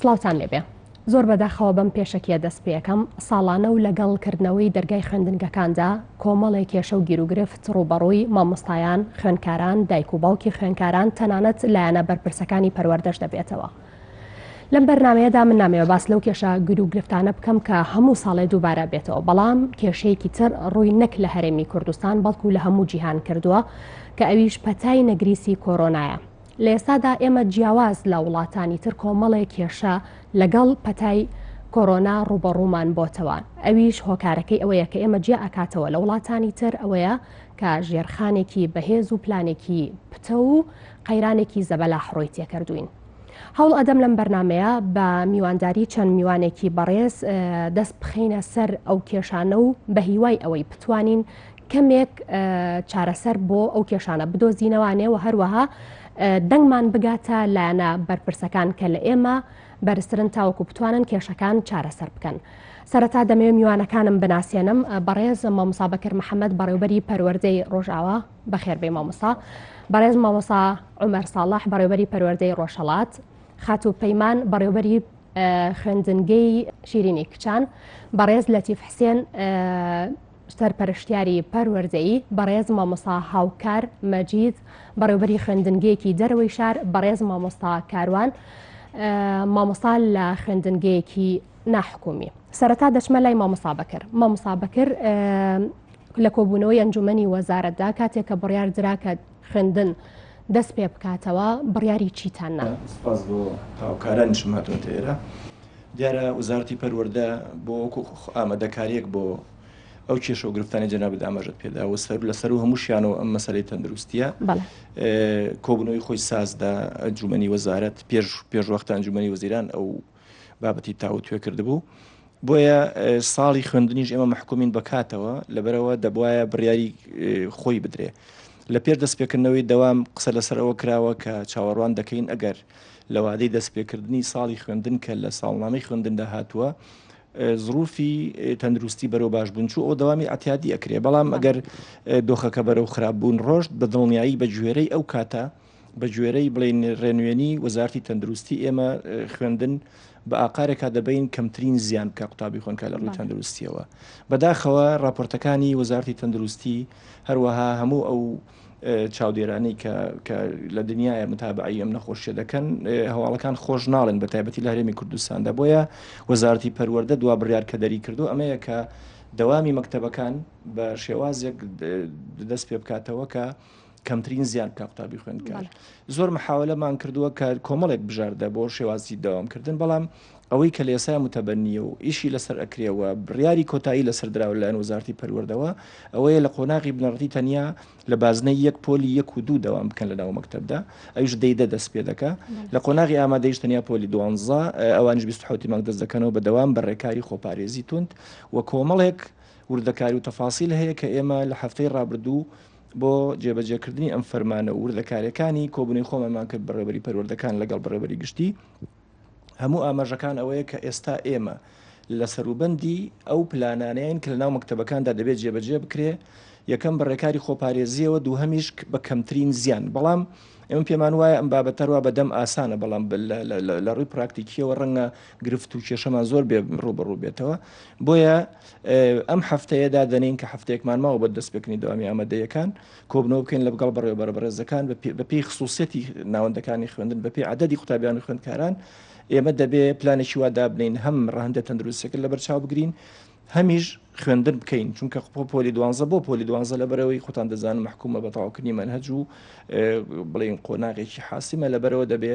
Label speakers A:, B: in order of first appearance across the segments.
A: سڵاوتان لێبێ. زۆر بەداخەوە بەم پێشەکیە دەست پێەکەم ساڵانە و لەگەڵ کردنەوەی دەرگای خوێندنگەکاندا کۆمەڵێ کێشە و گیروگرفت ڕوبەڕووی مامۆستایان خوێنکاران دایک و باوکی خوێنکاران تەنانەت لایەنە بەرپرسەکانی پەروەردەش دەبێتەوە. لەم بەرنمەیەدا من نامەوێ باس لەو کێشە گرو گرفتانە بکەم کە هەموو ساڵێ دووبارە بێتەوە بەڵام کێشەیەکی تر ڕووی نەک لە هەرێمی کوردستان بەڵکو لە هەموو جیهان کردووە کە ئەویش پەتای نەگریسی کۆرۆنایە لە ئێستادا ئێمە جیاواز لە وڵاتانی تر کۆمەڵێ کێشە لەگەڵ پەتای کۆرۆنا ڕووبەڕوومان بۆتەوە، ئەویش هۆکارەکەی ئەوەیە کە ئێمە جیا ئەکاتەوە لە وڵاتانی تر ئەوەیە کە ژێرخانێکی بەهێز و پلانێکی پتەو و قەیرانێکی زەبەلاح ڕووی تێکردووین. هەوڵ ئەدەم لەم بەرنامەیە بە میوانداری چەند میوانێکی بەڕێز دەست بخەینە سەر ئەو کێشانە و بە هیوای ئەوەی بتوانین کەمێک چارەسەر بۆ ئەو کێشانە بدۆزینەوانێ و هەروەها دەنگمان بگاتە لایەنە بەرپرسەکان کە لە ئێمە بەرزترن تاوەکو بتوانن کێشەکان چارەسەر بکەن. سەرەتا دەمەوێت میوانەکانم بناسیێنم بەڕێز مامۆسا بەکر محەممەد بەڕێوبەری پەروەردەی ڕۆژاوا بەخێربێ مامۆسا بەڕێز مامۆسا عمر ساڵح بەڕێوبەری پەروەردەی ڕۆژهڵات خاتو پەیمان بەڕێوبەری خوێندنگەی شیرینی کچان بەڕێز لەتیف حسێن سەرپەرشتیاری پەروەردەیی، بەڕێز مامۆستا هاوکار مەجید، بەڕێوبەری خوێندنگەیەکی دەرەوەی شار، بەڕێز مامۆستا کاروان، مامۆستا لە خوێندنگەیەکی ناحکومی. سەرەتا دەچمە لای مامۆستا بەکر. مامۆستا بەکر لە کۆبوونەوەی ئەنجومەنی وەزارەتدا کاتێک کە بڕیار درا کە خوێندن دەست پێ بکاتەوە بڕیاری چیتان نا. سپاس بۆ
B: هاوکارانیشم هاتوونەتە ئێرە. دیارە وەزارەتی پەروەردە بۆ وەکو ئامادەکاریەک بۆ ئەو کێشە و گرفتانی جەنابت ئاماژەت پێدا و سەر لەسەر و هەمووشیانەوە ئەم مەسەری تەندروستیە کۆبنەوەی خۆی سازدا ئەنجومنی وەزارەت پێش پێشوەختە ئەنجومنی وەزیران ئەو بابەتی تاوتوێ کردبوو. بۆیە ساڵی خوێندنیش ئێمە محکومین بە کاتەوە لەبەرەوە دەبواە بڕیاری خۆی بدرێ. لە پێر دەستپێکردنەوەی دەوام قسە لەسەر ئەوە کراوە کە چاوەڕوان دەکەین ئەگەر لە وادەی دەستپێکردنی ساڵی خوێندن کە لە ساڵنامەی خوێندندا هاتووە زروفی تەندروستی بەرەو باش بوون چوو ئەو دەوامی ئەتیادی ئەکرێ بەڵام ئەگەر دۆخەکە بەرەو خراپ بوون ڕۆشت بە دڵنیایی بە گوێرەی ئەو کاتە بە گوێرەی بڵین ڕێنوێنی وەزارتی تەندروستی ئێمە خوێندن بە ئاقارێکا دەبین کەمترین زیان بکە قوتابی خۆنکە لە ڕووی تەندروستیەوە بەداخەوە راپۆرتەکانی وەزارتی تەندروستی هەروەها هەموو ئەو چاودێرانی کە لە دنیاە متابعی ئەم نەخۆشیە دەکەن هەواڵەکان خۆش ناڵێن بە تایبەتی لە هەرێمی کوردستاندا بۆیە وەزارتی پەروەەردە دوا بڕیار کە دەری کردو ئەمەیە کە دەوامی مەکتتەبەکان بە شێوازێک دەست پێ بکاتەوە کە کەمترین زیان بکە قوتابی خوێندکار زۆر محاولەمان کردووە کە کۆمەڵێک بژاردە بۆ شێوازی داوامکردن بەڵام ئەوەی کە لێسای متەبەنیە و ئیشی لەسەر ئەکرێەوە بڕیاری کۆتایی لەسەر دراو لەەن وزارتی پەروەردەوە ئەوەیە لە قۆناغی بنەڕتی تەنیا لە بازنە یەک پۆلی یەک و دوو دەوام بکەن لە ناو مەکتتەبدا ئەوش دەیدە دەست پێ دەکە لە قۆناغی ئامادەیش تەنیا پۆلی دوانزە ئەوانش 26 مانگ دەست دەکەنەوە بە دەوام بە ڕێکاری خۆپارێزی تونند و کۆمەڵێک وردەکاری و تەفاسیل هەیە کە ئێمە لە هەفتەی ڕابردوو بۆ جێبەجێکردنی ئەم فەرمانە و وردەکاریەکانی کۆبنەی خۆمانمان کرد بە ڕێبەری پەروەردەکان لەگەڵ بەڕێبەری گشتی هەموو ئاماژەکان ئەوەیە کە ئێستا ئێمە لە سەروبەندی ئەو پلانانەیەن کە لە ناو مەکتتەبەکاندا دەبێت جێبەجێ بکرێ یەکەم بە ڕێکاری خۆپارێزیەوە دوو هەمیش بە کەمترین زیان بەڵام ئەمە پێمان وایە ئەم بابەتەروا بەدەم ئاسانە بەڵام لە ڕووی پراکتیکیەوە ڕەنگە گرفت و کێشەمان زۆر بێ ڕوبەڕوو بێتەوە بۆیە ئەم هەفتەیە دادەنێین کە هەفتەیەکمان ماوە بۆ دەستپێکردنی دەوامی ئامادەییەکان، کۆبنەوە بکەین لەگەڵ بەڕێوەبەرە بەڕێزەکان بەپێی خسووسیەتی ناوەندەکانی خوێندن، بەپێی عەدەدی قوتابیان و خوێندکاران، ئێمە دەبێ پلانێکی وا دابنێین هەم ڕەهەندە تەندروستییەکە لەبەرچاو بگرین، هەمیش خوێندن بکەین، چونکە بۆ پۆلی دوانزە بۆ پۆلی دوانزە لەبەرئەوەی خۆتان دەزانن مەحکوومە بە تەواوکردنی مەنهەج و بڵێین قۆناغێکی حاسمە، لەبەرەوە دەبێ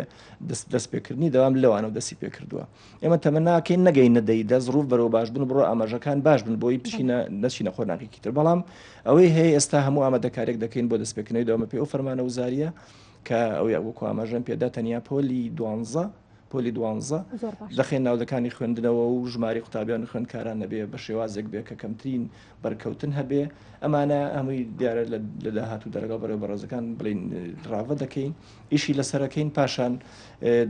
B: دەستپێکردنی دەوام لەوانەوە دەستی پێکردووە. ئێمە تەمە ناکەین نەگەینە دەی دە ڕوف بەرەوە باش بن بڕۆ ئاماژەکان باش بن بۆی بچینە نەچینە خۆ ناکێکی تر بەڵام ئەوەی هەیە ئێستا هەموو ئامادەکارێک دەکەین بۆ دەستپێکنەوەی دەوامە پێ و فەرمانە وزاریە کە ئەو یاگوکو ئاماژەم پێدا تەنیا پۆلی دوانزە پۆلی دوانزە دەخێن ناودەکانی خوێندنەوە و ژماری قوتابیان خوێندکاران نەبێ بە شێوازێک بێ کە کەمترین بەرکەوتن هەبێ ئەمانە هەمووی دیارە لە داهات و دەرەگەڵ بەرەوە بەڕێزەکان بڵین ڕاوە دەکەین ئیشی لەسەرەکەین پاشان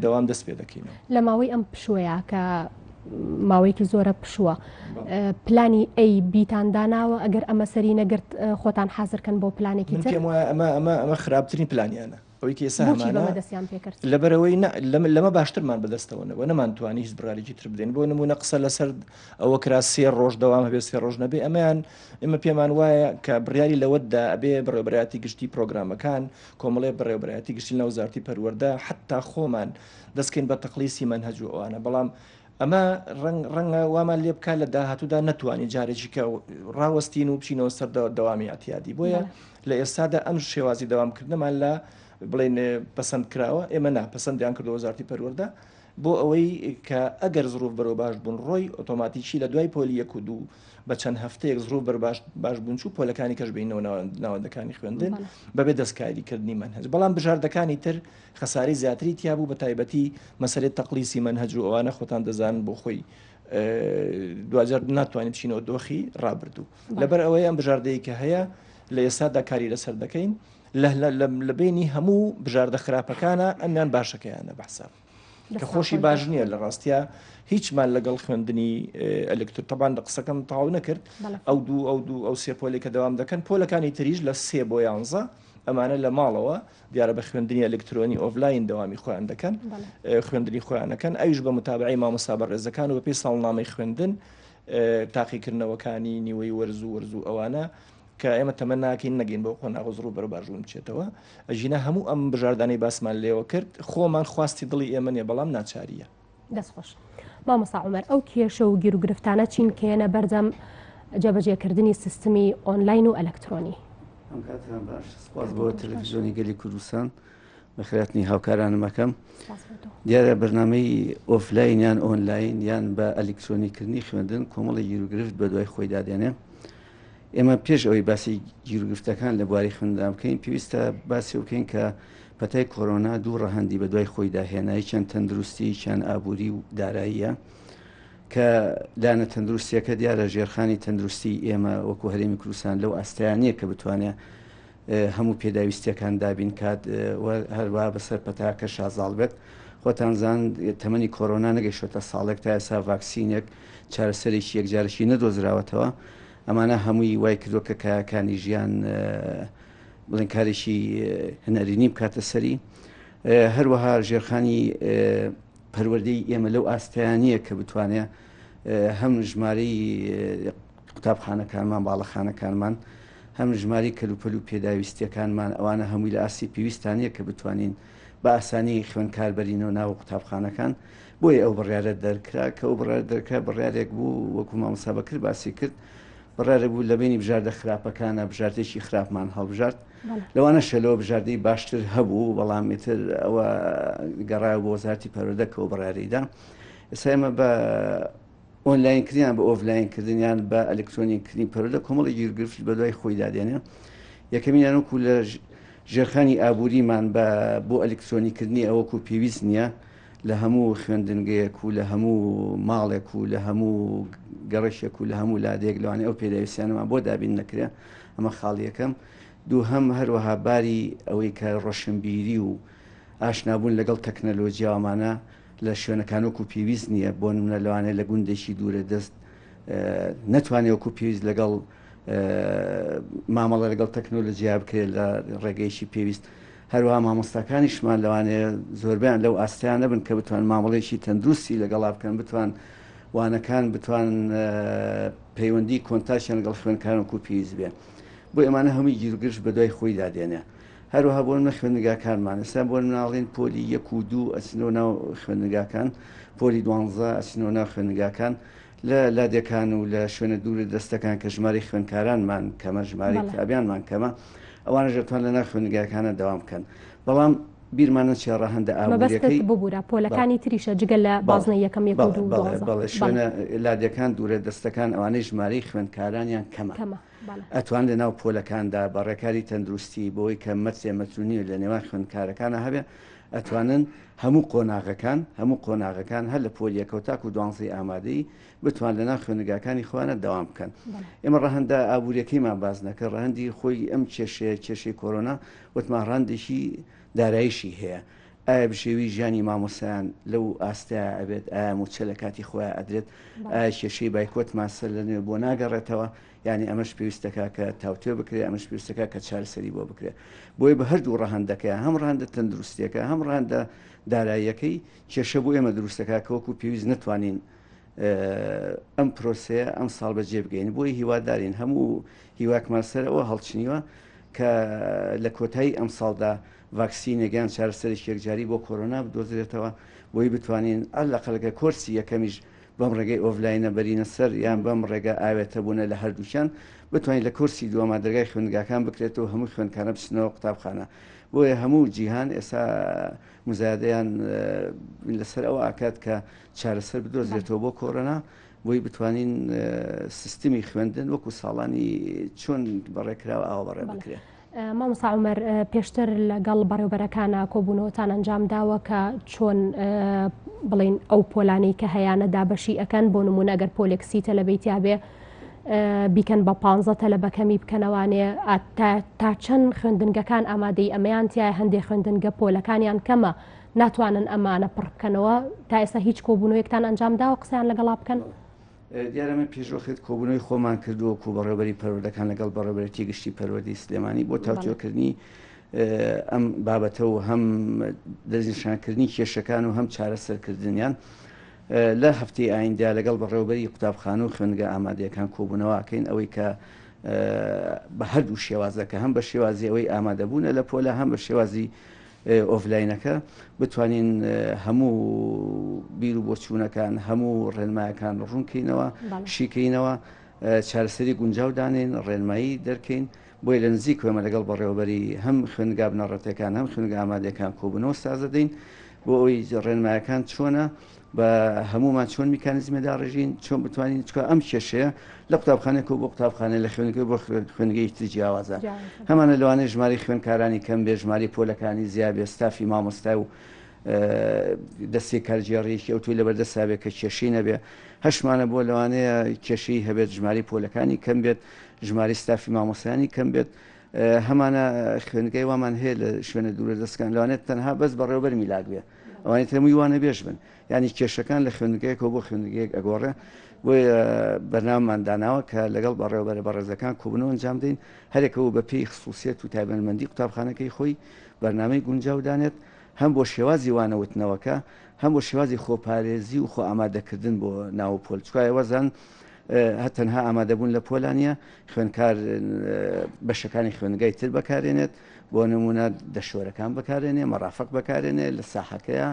B: دەوام دەست پێ دەکەینەوە لە ماوەی ئەم پشوەیە
A: کە ماوەیەکی زۆرە پشووە پلانی ئەی بیتان داناوە ئەگەر ئەمە سەری نەگرت
B: خۆتان
A: حازرکەن
B: بۆ
A: پلانێکی تر ئەمە ئەمە
B: ئەمە
A: خراپترین
B: پلانیانە
A: ئەوەی
B: کێسا دەستیان پێکرد لەبەرەوەی لەمە باشترمان بەدەستەوەنەوە نەمانتوانی هیچ بڕارێکی تر بدەین بۆ نمونە قسە لەسەر ئەوە کرا سێ ڕۆژ دەوام هەبێ سێ ڕۆژ نەبێ ئەمەیان ئمە پێمان وایە کە بڕیاری لەوەتدا ئەبێ بڕێبراتی گشتی پرۆگرامەکان کۆمەڵی بەڕێوبەرایەتی گشتی لە وەزارەتی پەروەردە حتا خۆمان دەستکەین بە تەقلیسی مەنهەج و ئەوانە بەڵام ئەمە ڕەنگە وامان لێ بکات لە داهاتوودا نتوانانی جارێکی کە ڕاوەستین و بچینەوە سەر دەوامی ئەتیادی بۆیە لە ئێستادا ئەم شێوازی دەوامکردنەمان لە بڵێن پسند کراوە ئێمە ناپسندیان کردو وەزارتی پەروەەردە بۆ ئەوەی کە ئەگەر زروف بەرەو باش بوون ڕۆی ئۆتۆماتیکی لە دوای پۆلی یەک و دوو بە چەند هەفتەیەک زڕوو بەر باش باش بنچوو پۆلەکانی کەش بینەوە ناوەندەکانی خوێندن بەبێ دەستکاریکردنی من هەز بەڵام بژاردەکانی تر خەساری زیاتری تیا بوو بە تایبەتی مەسەرێت تەقلیسی من هەجر ئەوانە خۆتان دەزان بۆ خۆی دوجار ناتوانین بچینەوە دۆخی ڕابردوو لەبەر ئەوەی ئەم بژاردەیە کە هەیە لە ئێستادا کاری لەسەر دەکەین لە بینی هەموو بژاردە خراپەکانە ئەمیان باشەکەیانە بەحساب کە خۆشی باش نییە لە ڕاستیا هیچمان لەگەڵ خوێندنی ئەلکتر تەبان لە قسەکەم تاو نەکرد ئەو دوو ئەو دوو ئەو سێ پۆلێکە دەوام دەکەن پۆلەکانی تریش لە سێ بۆ یانزە ئەمانە لە ماڵەوە دیارە بە خوێندنی ئەلکترۆنی ئۆفلاین دەوامی خۆیان دەکەن خوێندنی خۆیانەکەن ئەوش بە متابعی مامۆستا بە ڕێزەکان و بەپی ساڵنامەی خوێندن تاقیکردنەوەکانی نیوەی وەرز و وەرز و ئەوانە کە ئێمە تەمە ناکەین نەگەین بەو قۆناغە زڕ و بەرە باشبوون بچێتەوە ئەژینا هەموو ئەم بژاردانەی باسمان لێوە کرد خۆمان خواستی دڵی ئێمە نیە بەڵام ناچاریە دەستخۆش
A: مامۆسا عمر ئەو کێشە و گیرروگرفتانە چین کێنە بەردەم جەبەجێکردنی سیستمی ئۆنلاین و ئەلکترۆنی ئەم
C: کاتیان باش سپاس بۆ تەلەفیزیۆنی گەلی کوردستان بە خراپنی هاوکارانمەکەم دیارە بەرنمەی ئۆفلاین یان ئۆنلاین یان بە ئەلکترۆنیکردنی خوێندن کۆمەڵی یروگرفت بە دوای خۆی دادێنێ ئێمە پێش ئەوەی باسی گیروگرفتەکان لە بواری خوێندندا بکەین پێویستە باسی بکەین کە پەتای کۆرۆنا دوو ڕەهەندی بە دوای خۆیدا هێنای چەند تەندروستی چیان ئابووری و داراییە کە لایەنە تەندروستیەکە دیارە ژێرخانی تەندروستی ئێمە وەکو هەرێمی کوردستان لەو ئاستیانە کە بتوانێت هەموو پێداویستیەکان دابین کات و هەروا بەسەر پەتاکە شازاڵ بێت خۆتان زان تەمەنی کۆرۆنا نەگەیشتە ساڵێک تا ئێسا ڤاکسینێک چارەسەرێکی یەکجارشی نەدۆزراوەتەوە ئەمانە هەمووی وای کردوە کە کایەکانی ژیان بڵێن کارێکی هەنەرینی بکاتە سەری هەروەها ژێرخانی پەروەردەی ئێمە لەو ئاستیانە کە بتوانێت هەم ژمارەی قوتابخانەکانمان باڵەخانەکانمان هەم ژمارەی کەلوپەل و پێداویستییەکانمان، ئەوانە هەمووی لە ئاستی پێویستدا نییە کە بتوانین بە ئاسانی خوێندکار بەرینەوە ناو قوتابخانەکان، بۆیە ئەو بڕیارە دەرکرا، کە ئەو بڕیارە دەرکرا بڕیارێک بوو وەکو مامۆستا بەکر باسی کرد، بڕیارێک بوو لە بەینی بژاردە خراپەکانە بژاردەیەکی خراپمان هەڵبژارد، لەوانە شەلۆ بژاردەی باشتر هەبوو، بەڵام ئیتر ئەوە گەڕایەوە بۆ وەزارەتی پەروەردە کە ئەو بڕیارەی دا، ئێستا ئێمە بە. ئۆنلاین کردنیان بە ئۆفلاین کردن یان بە ئەلکترۆنی کردنی پەرۆدە کۆمەڵی گیرگرفت بەدوای خۆیدا دێنێ یەکەمینیان وەکو لە ژێرخانی ئابووریمان بە بۆ ئەلکترۆنی کردنی ئەوەکو پێویست نییە لە هەموو خوێندنگەیەک و لە هەموو ماڵێک و لە هەموو گەڕشێک و لە هەموو لادێک لەوانێ ئەو پێداویستیانەمان بۆ دابین نەکرێ ئەمە خاڵیەکەم دوو هەم هەروەها باری ئەوەی کە ڕۆشنبیری و ئاشنابوون لەگەڵ تەکنەلۆجیاوامانە لە شوێنەکان وەکو پێویست نییە، بۆ نمونە لەوانەیە لە گوندێکی دوورە دەست نەتوانێ وەکو پێویست لەگەڵ مامەڵە لەگەڵ تەکنۆلۆجیا بکرێت لە ڕێگەیەکی پێویست. هەروەها مامۆستاکانیشمان لەوانەیە زۆربەیان لەو ئاستەیان نەبن کە بتوان مامەڵەیەکی تەندروستی لەگەڵا بکەن، بتوان وانەکان بتوان پەیوەندی کۆنتاکتیان لەگەڵ خوێندکاران وەکو پێویست بێ. بۆیە ئەمانە هەمووی گیروگرژ بەدوای خۆیدا دێنێ. هەروەها بۆ نمونە خوێندنگاکانمان ئێستا بۆ مناڵین پۆلی یەک و دوو ئەچنەوە ناو خوێندنگاکان پۆلی دوانزە ئەچنەوە ناو خوێندنگاکان لە لادێکان و لە شوێنە دوور دەستەکان کە ژماری خوێندکارانمان کەمە ژماری بەڵێ. قوتابیانمان کەمە ئەوانەش دەتوان لە ناو خوێندنگاکانە دەوام بکەن بەڵام بیرمان نەچێ ڕەهەندە مەبەستت ئابووریەکەی ببورە بەڵێ پۆلەکانی
A: تریشە جگە لە بەڵێ بازنەی یەکەم یەک و بەڵێ دوو و بەڵێ دوانزە بەڵێ بەڵێ
C: شوێنە لادێکان دوورە دەستەکان ئەوانەی ژمارەی خوێندکارانیان کەمە. کەمە. ئەتوان لە ناو پۆلەکاندا بە ڕێکاری تەندروستی بۆ ئەوەی کە مەترێ مەترو نیو لە نێوان خوێندکارەکانا هەبێ ئەتوانن هەموو قۆناغەکان هەموو قۆناغەکان هەر لە پۆل یەکەوە تاکو دوانزەی ئامادەی بتوان لە ناو خوێندگاکانی خۆیانە دەوام بکەن ئێمە ڕەهەندە ئابووریەکەیمان باز نەکە ڕەهەندی خۆی ئەم کێشەیە کێشەی کۆرۆنا وتمان ڕەهەندێکی دارایشی هەیە ئایا بژێوی ژیانی مامۆستایان لەو ئاستەیە ئەبێت ئایا موچە لە کاتی خۆیان ئەدرێت ئایا کێشەی بایکۆت ماسە لە نوێ بۆ ناگەڕێتەوە یعنی ئەمەش پێویستەکە کە تاوتێ بکرێت ئەمەش پێویستەکە کە چارەسەری بۆ بکرێت بۆی بە هەردوو ڕەهندەکەیان هەم ڕەهندە تەندروستیەکە هەم ڕەهندە داراییەکەی کێشە بۆ ئێمە دروستەکە کەوەکو پێویست نتوانین ئەم پرۆسەیە ئەم ساڵ بەجێ بگەین بۆی هیوادارین هەموو هیواکمان سەرەوە هەڵچنیوە کە لە کۆتایی ئەم ساڵدا ڤاکسینێک یان چارەسەرێکی یەکجاری بۆ کۆرۆنا بدۆزرێتەوە بۆی بتوانین ئەل لە قەلەکە کۆرسی یەکەمیش بەم ڕێگەی ئۆڤلاینە بەرینە سەر یان بەم ڕێگە ئاوێتە بوونە لە هەردووکیان بتوانین لە کۆرسی دووەما دەرگای خوێندگاکان بکرێت و هەموو خوێندکانە بچنەوە قوتابخانە بۆیە هەموو جیهان ئێسا مزادەیان لەسەر ئەو ئاکات کە چارەسەر بدۆزێتەوە بۆ کۆرۆنا بۆی بتوانین سیستمی خوێندن وەکو ساڵانی چۆن بەڕێکراوە ئاوا بەڕێ بکرێت. مامۆستا عومەر
A: پێشتر لەگەڵ بەڕێوبەرەکانە کۆبوونەوەتان ئەنجام داوە کە چۆن بڵین ئەو پۆلانەی کە هەیانە دابەشی ئەەکەن بۆ نمونە گەر پۆلێکسی تەلەبیتیاێ بیکەن بە پ تەلەبەکەمی بکەنەوانێ تا چەند خوێندنگەکان ئامادەی ئەمەیان تیا هەندێ خوێندنگە پۆلەکانیان کەمە ناتوانن ئەمانە پڕ بکەنەوە تا ئێستا هیچ کۆبوونەوەیەکتان ئەنجام داوە قسەیان لەگەڵا بکەن. دیارە من
C: پێشوەخت کۆبوونەوەی خۆمان کرد و وەکوو بەڕێوەبەری پەروەردەکان لەگەڵ بەڕێوەبەرێتی گشتی پەروەردەی سلێمانی بۆ تاوتوێکردنی ئەم بابەتە و هەم دەستنیشانکردنی کێشەکان و هەم چارەسەرکردنیان لە هەفتەی ئایندە لەگەڵ بەڕێوەبەری قوتابخانە و خوێندگە ئامادەیەکان کۆبوونەوەکەین ئەوەی کە بە هەردوو شێوازەکە هەم بە شێوازی ئەوەی ئامادەبوونە لە پۆلە هەم بە شێوازی ئۆفلاینەکە بتوانین هەموو بیر و بۆچوونەکان هەموو ڕێنمایەکان ڕوونکەینەوە شیکەینەوە چارەسەری گونجاو دانێن ڕێنمایی دەرکەین بۆی لە نزیک کوێمە لەگەڵ بەڕێوەبەری هەم خوێنگا بنەڕەتەکان هەم خوێنگە ئامادەکان کۆبنەوە سازدەین بۆ ئەوی ڕێنمایەکان چۆنە بە هەموومان چۆن میکانزمە داڕێژین چۆن بتوانین چکە ئەم کێشەیە لە قوتابخانێک و بۆ قوتابخانە لە خوێنگە بۆ خوێنگەی تر جیاوازە هەمانە لەوانەیە ژماری خوێنکارانی کەم بێ ژماری پۆلەکانی زیابێ ستافی مامۆستا و دەستی کارگێڕیەکی ئەو توی لەبەردەسابێت کە کێشی نەبێ هەشمانە بۆ لەوانەیە کێشی هەبێت ژماری پۆلەکانی کەم بێت ژماری ستافی مامۆسیانی کەم بێت هەمانە خوێنگەی وامان هەیە لە شوێنە دوورە دەستکان لەوانێت تەنها بەس بەڕێوبەر میلاک بێ ئەوانی تر هەمووی وانە بێژ بن ینی کێشەکان لە خوێندگەیەکەوە بۆ خوێندگەیەک ئەگۆڕێ بۆیە بەرنامان داناوە کە لەگەڵ بەڕێوەبەرە بەڕێزەکان کۆبنەوە ئەنجام دەین هەرێکەوە بە پێی خصوصیت و تایبەنمەندی قوتابخانەکەی خۆی بەرنمەی گونجاو دانێت هەم بۆ شێوازی وانەوتنەوەکە هەم بۆ شێوازی خۆپارێزی و خۆ ئامادەکردن بۆ ناو پۆل چکایە وەزان هە تەنها ئامادەبوون لە پۆلانیە خوێنکار بەشەکانی خوێنگای تر بەکارێنێت بۆ نموونە دەشوەرەکان بەکارێنێ، مەڕافەق بەکارێنێ لە ساحەکەیا،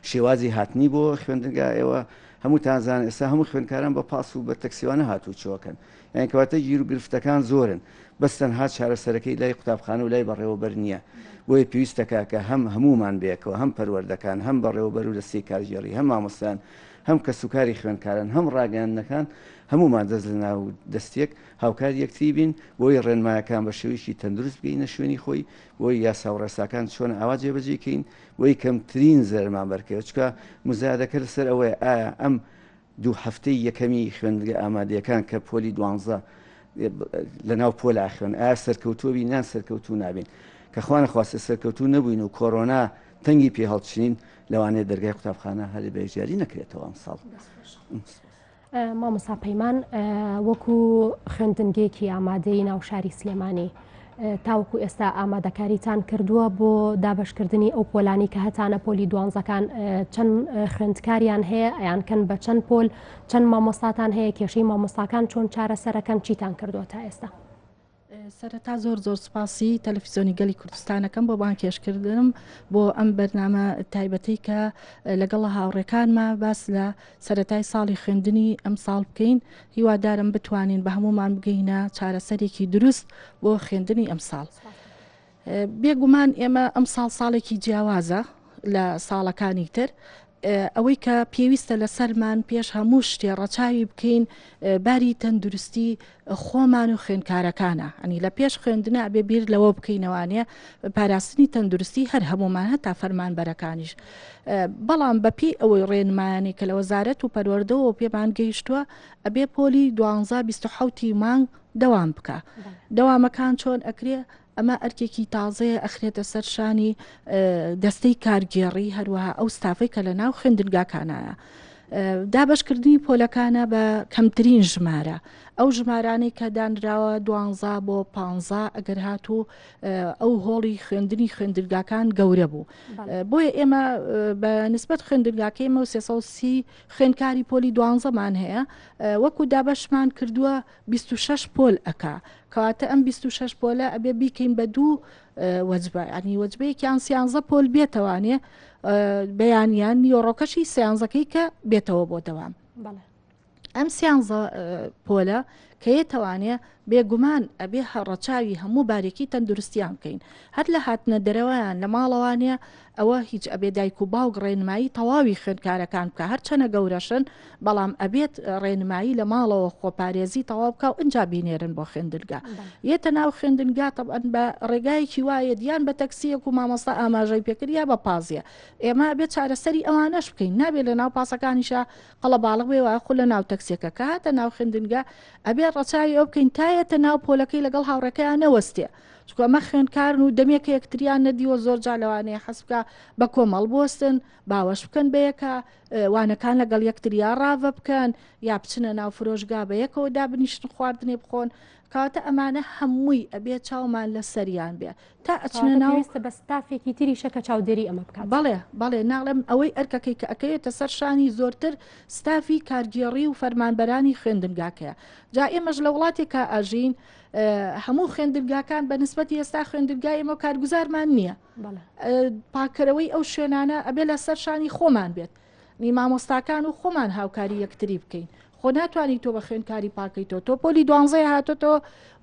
C: شێوازی هاتنی بۆ خوێندنگا، ئێوە هەمووتان زانن ئێستا هەموو خوێندکاران بە پاس و بە تەکسیوانە هاتووچۆکەن، یانی کەواتە گیروگرفتەکان زۆرن، بەس تەنها چارەسەرەکەی لای قوتابخانە و لای بەڕێوەبەر نییە، بۆیە پێویستەکە کە هەم هەموومان بەیەکەوە هەم پەروەردەکان، هەم بەڕێوەبەر و دەستەی کارگێڕی، هەم مامۆستایان، هەم کەسوکاری خوێندکاران، هەم ڕاگەیاندنەکان هەموومان دەست لەناو دەستیەک هاوکاری یەکتری بین، بۆی ڕێنمایەکان بە شێوەیەکی تەندروست بگەینە شوێنی خۆی، بۆی یاسا و ڕێساکان چۆن ئاوا جێبەجێی کەین، بۆی کەمترین زەرەرمان بەرکەوێت، چونکە مزایەدەکە لەسەر ئەوەیە ئایا ئەم دوو هەفتەی یەکەمی خوێندنگە ئامادەیەکان کە پۆلی دوانزە لە ناو پۆل ئاخوێن ئایا سەرکەوتووە بین یان سەرکەوتوو نابین کە خوا نەخواستە سەرکەوتوو نەبووین و کۆرۆنا تەنگی پێ هەڵچنین لەوانەیە دەرگای قوتابخانە هەر بە یەکجاری نەکرێتەوە ئەمساڵ. مامۆستا
A: پەیمان وەکو خوێندنگەیەکی ئامادەی ناو شاری سلێمانی تاوەکو ئێستا ئامادەکاریتان کردووە بۆ دابشکردنی ئەو پۆلانی کە هەتانە پۆلی دوانزەکان چەند خوێندکاریان هەیە ئەیان کەن بە چەند پۆل چەند مامۆستاتان هەیە کێشەی مامۆستاکان چۆن چارەسەرەکەن چیتان کردووە تا ئێستا. سەرەتا
D: زۆر زۆر سوپاسی تەلەفیزۆنی گەلی کوردستانەکەم بۆ بانکێشکردنم بۆ ئەم بەرنامە تایبەتەی کە لەگەڵ هاوڕێکانمە باس لە سەتای ساڵی خوێندنی ئەم ساڵ بکەین هیوادارم بتوانین بە هەمومان بگەینە چارەسەرێکی دروست بۆ خوێندنی ئەم ساڵ. بێ گومان ئێمە ئەم ساڵ ساڵێکی جیاوازە لە ساڵەکانی تر ئەوەی کە پێویستە لە سەرمان پێش هەموو شتێ ڕەچاوی بکەین باری تەندروستی خۆمان و خوێنکارەکانە ئەنی لە پێش خوێندنە بێ بیر لەوە بکەینەوانێ پاراستنی تەندروستی هەر هەمومان هەتا فەرمان بەرەکانیش بەڵام بەپی ئەوەی ڕێنمایانی کە لە وەزارەت و پەروەردەوە پێمان گەیشتووە ئەبێ پۆلی دوانزا 1970 مانگ دەوام بکە دەوامەکان چۆن ئەکرێ ئەمە ئەرکێکی تازەیە ئەخرێتە سەر شانی دەستەی کارگێڕی هەروەها ئەو ستافەی کە لە ناو خوێندنگاکانایە. دابشکردنی پۆلەکانە بە کەمترین ژمارە ئەو ژمارانەی کە دانراوە دوانزا بۆ پ ئەگەر هاتوو ئەو هۆڵی خوێندنی خوێندرگاکان گەورە بوو بۆیە ئێمە بە نسبەت خوێندرگاکەی مە سێسی خوێندکاری پۆلی دوانزەمان هەیە وەکو دابەشمان کردووە بیست و شەش پۆل ئەکا کەواتە ئەم بیست و شەش پۆلە ئەبێ بیکەین بە دوو وەجبە ینی وەجبەیەکیان سیانزە پۆل بێتەوانێ بەیانیان نیۆڕۆکەشی سیانزەکەی کە بێتەوە بۆ دەوام بەڵێ ئەم سیانزە پۆلە کە یەتوانێ بێگومان ئەبێ هەڕەچاوی هەموو بارێکی تەندروستیان بکەین هەر لە هاتنە دەرەوەیان لە ماڵەوانە ئەوە هیچ ئەبێت دایک و باوک ڕێنمایی تەواوی خوێندکارەکان بکە هەرچەنە گەورەشن بەڵام ئەبێت ڕێنمایی لە ماڵەوە خۆپارێزی تەواو بکە و ئەجا بینێرن بۆ خوێندنگا یەتە ناو خوێندنگا تەبەن بە ڕێگایەکی وایە دیان بە تەکسیەک و مامۆستا ئاماژەی پێکرد یا بە پازیە ئێمە بێت چارەسەری ئەوانەش بکەین نابێت لە ناو پاسەکانیشە قەڵە باڵغ بێ وایە خو لە ناو تەکسیەکە کاتە ناو خوێندنگا ئەبێ ڕەچاوی ئەو بکەین تایەتە ناو پۆلەکەی لەگەڵ هاوڕێکەیان نەوەستێ چونکە ئەمە خوێنکارن و دەمێکە یەکتریان نەدیوە زۆر جا لەوانەیە حەز بکە بە کۆمەڵ بوەستن باوەش بکەن بەیەکە وانەکان لەگەڵ یەکتریا ڕاڤە بکەن یا بچنە ناو فرۆشگا بە یەکەوە دابنیشتن خواردنێ بخۆن کاتە ئەمانە هەمووی ئەبێ چاومان لە سەریان بێ تا ئەچنە ناوستە بە ستافێکی تریشە
A: کە چاودێری ئەمە بکات بەڵێ بەڵێ ناڵم
D: ئەوەی ئەرکەکەی کە ئەکەوێتە سەر شانی زۆرتر ستافی کارگێڕی و فەرمانبەرانی خوێندنگاکەیە جا ئێمەش لە وڵاتێکا ئاژین هەموو خوێندنگاکان بە نسبەتی ئێستا خوێندنگای ئمە کارگوزارمان نییە پاکەرەوەی ئەو شوێنانە ئەبێ لە سەر شانی خۆمان بێت مامۆستاکان و خۆمان هاوکاری یەکتری بکەین خۆ ناتوانانی تۆ بە خوێندکاری پاکەیتەوە تۆ پۆلی دوانزەیە هاتۆتەوە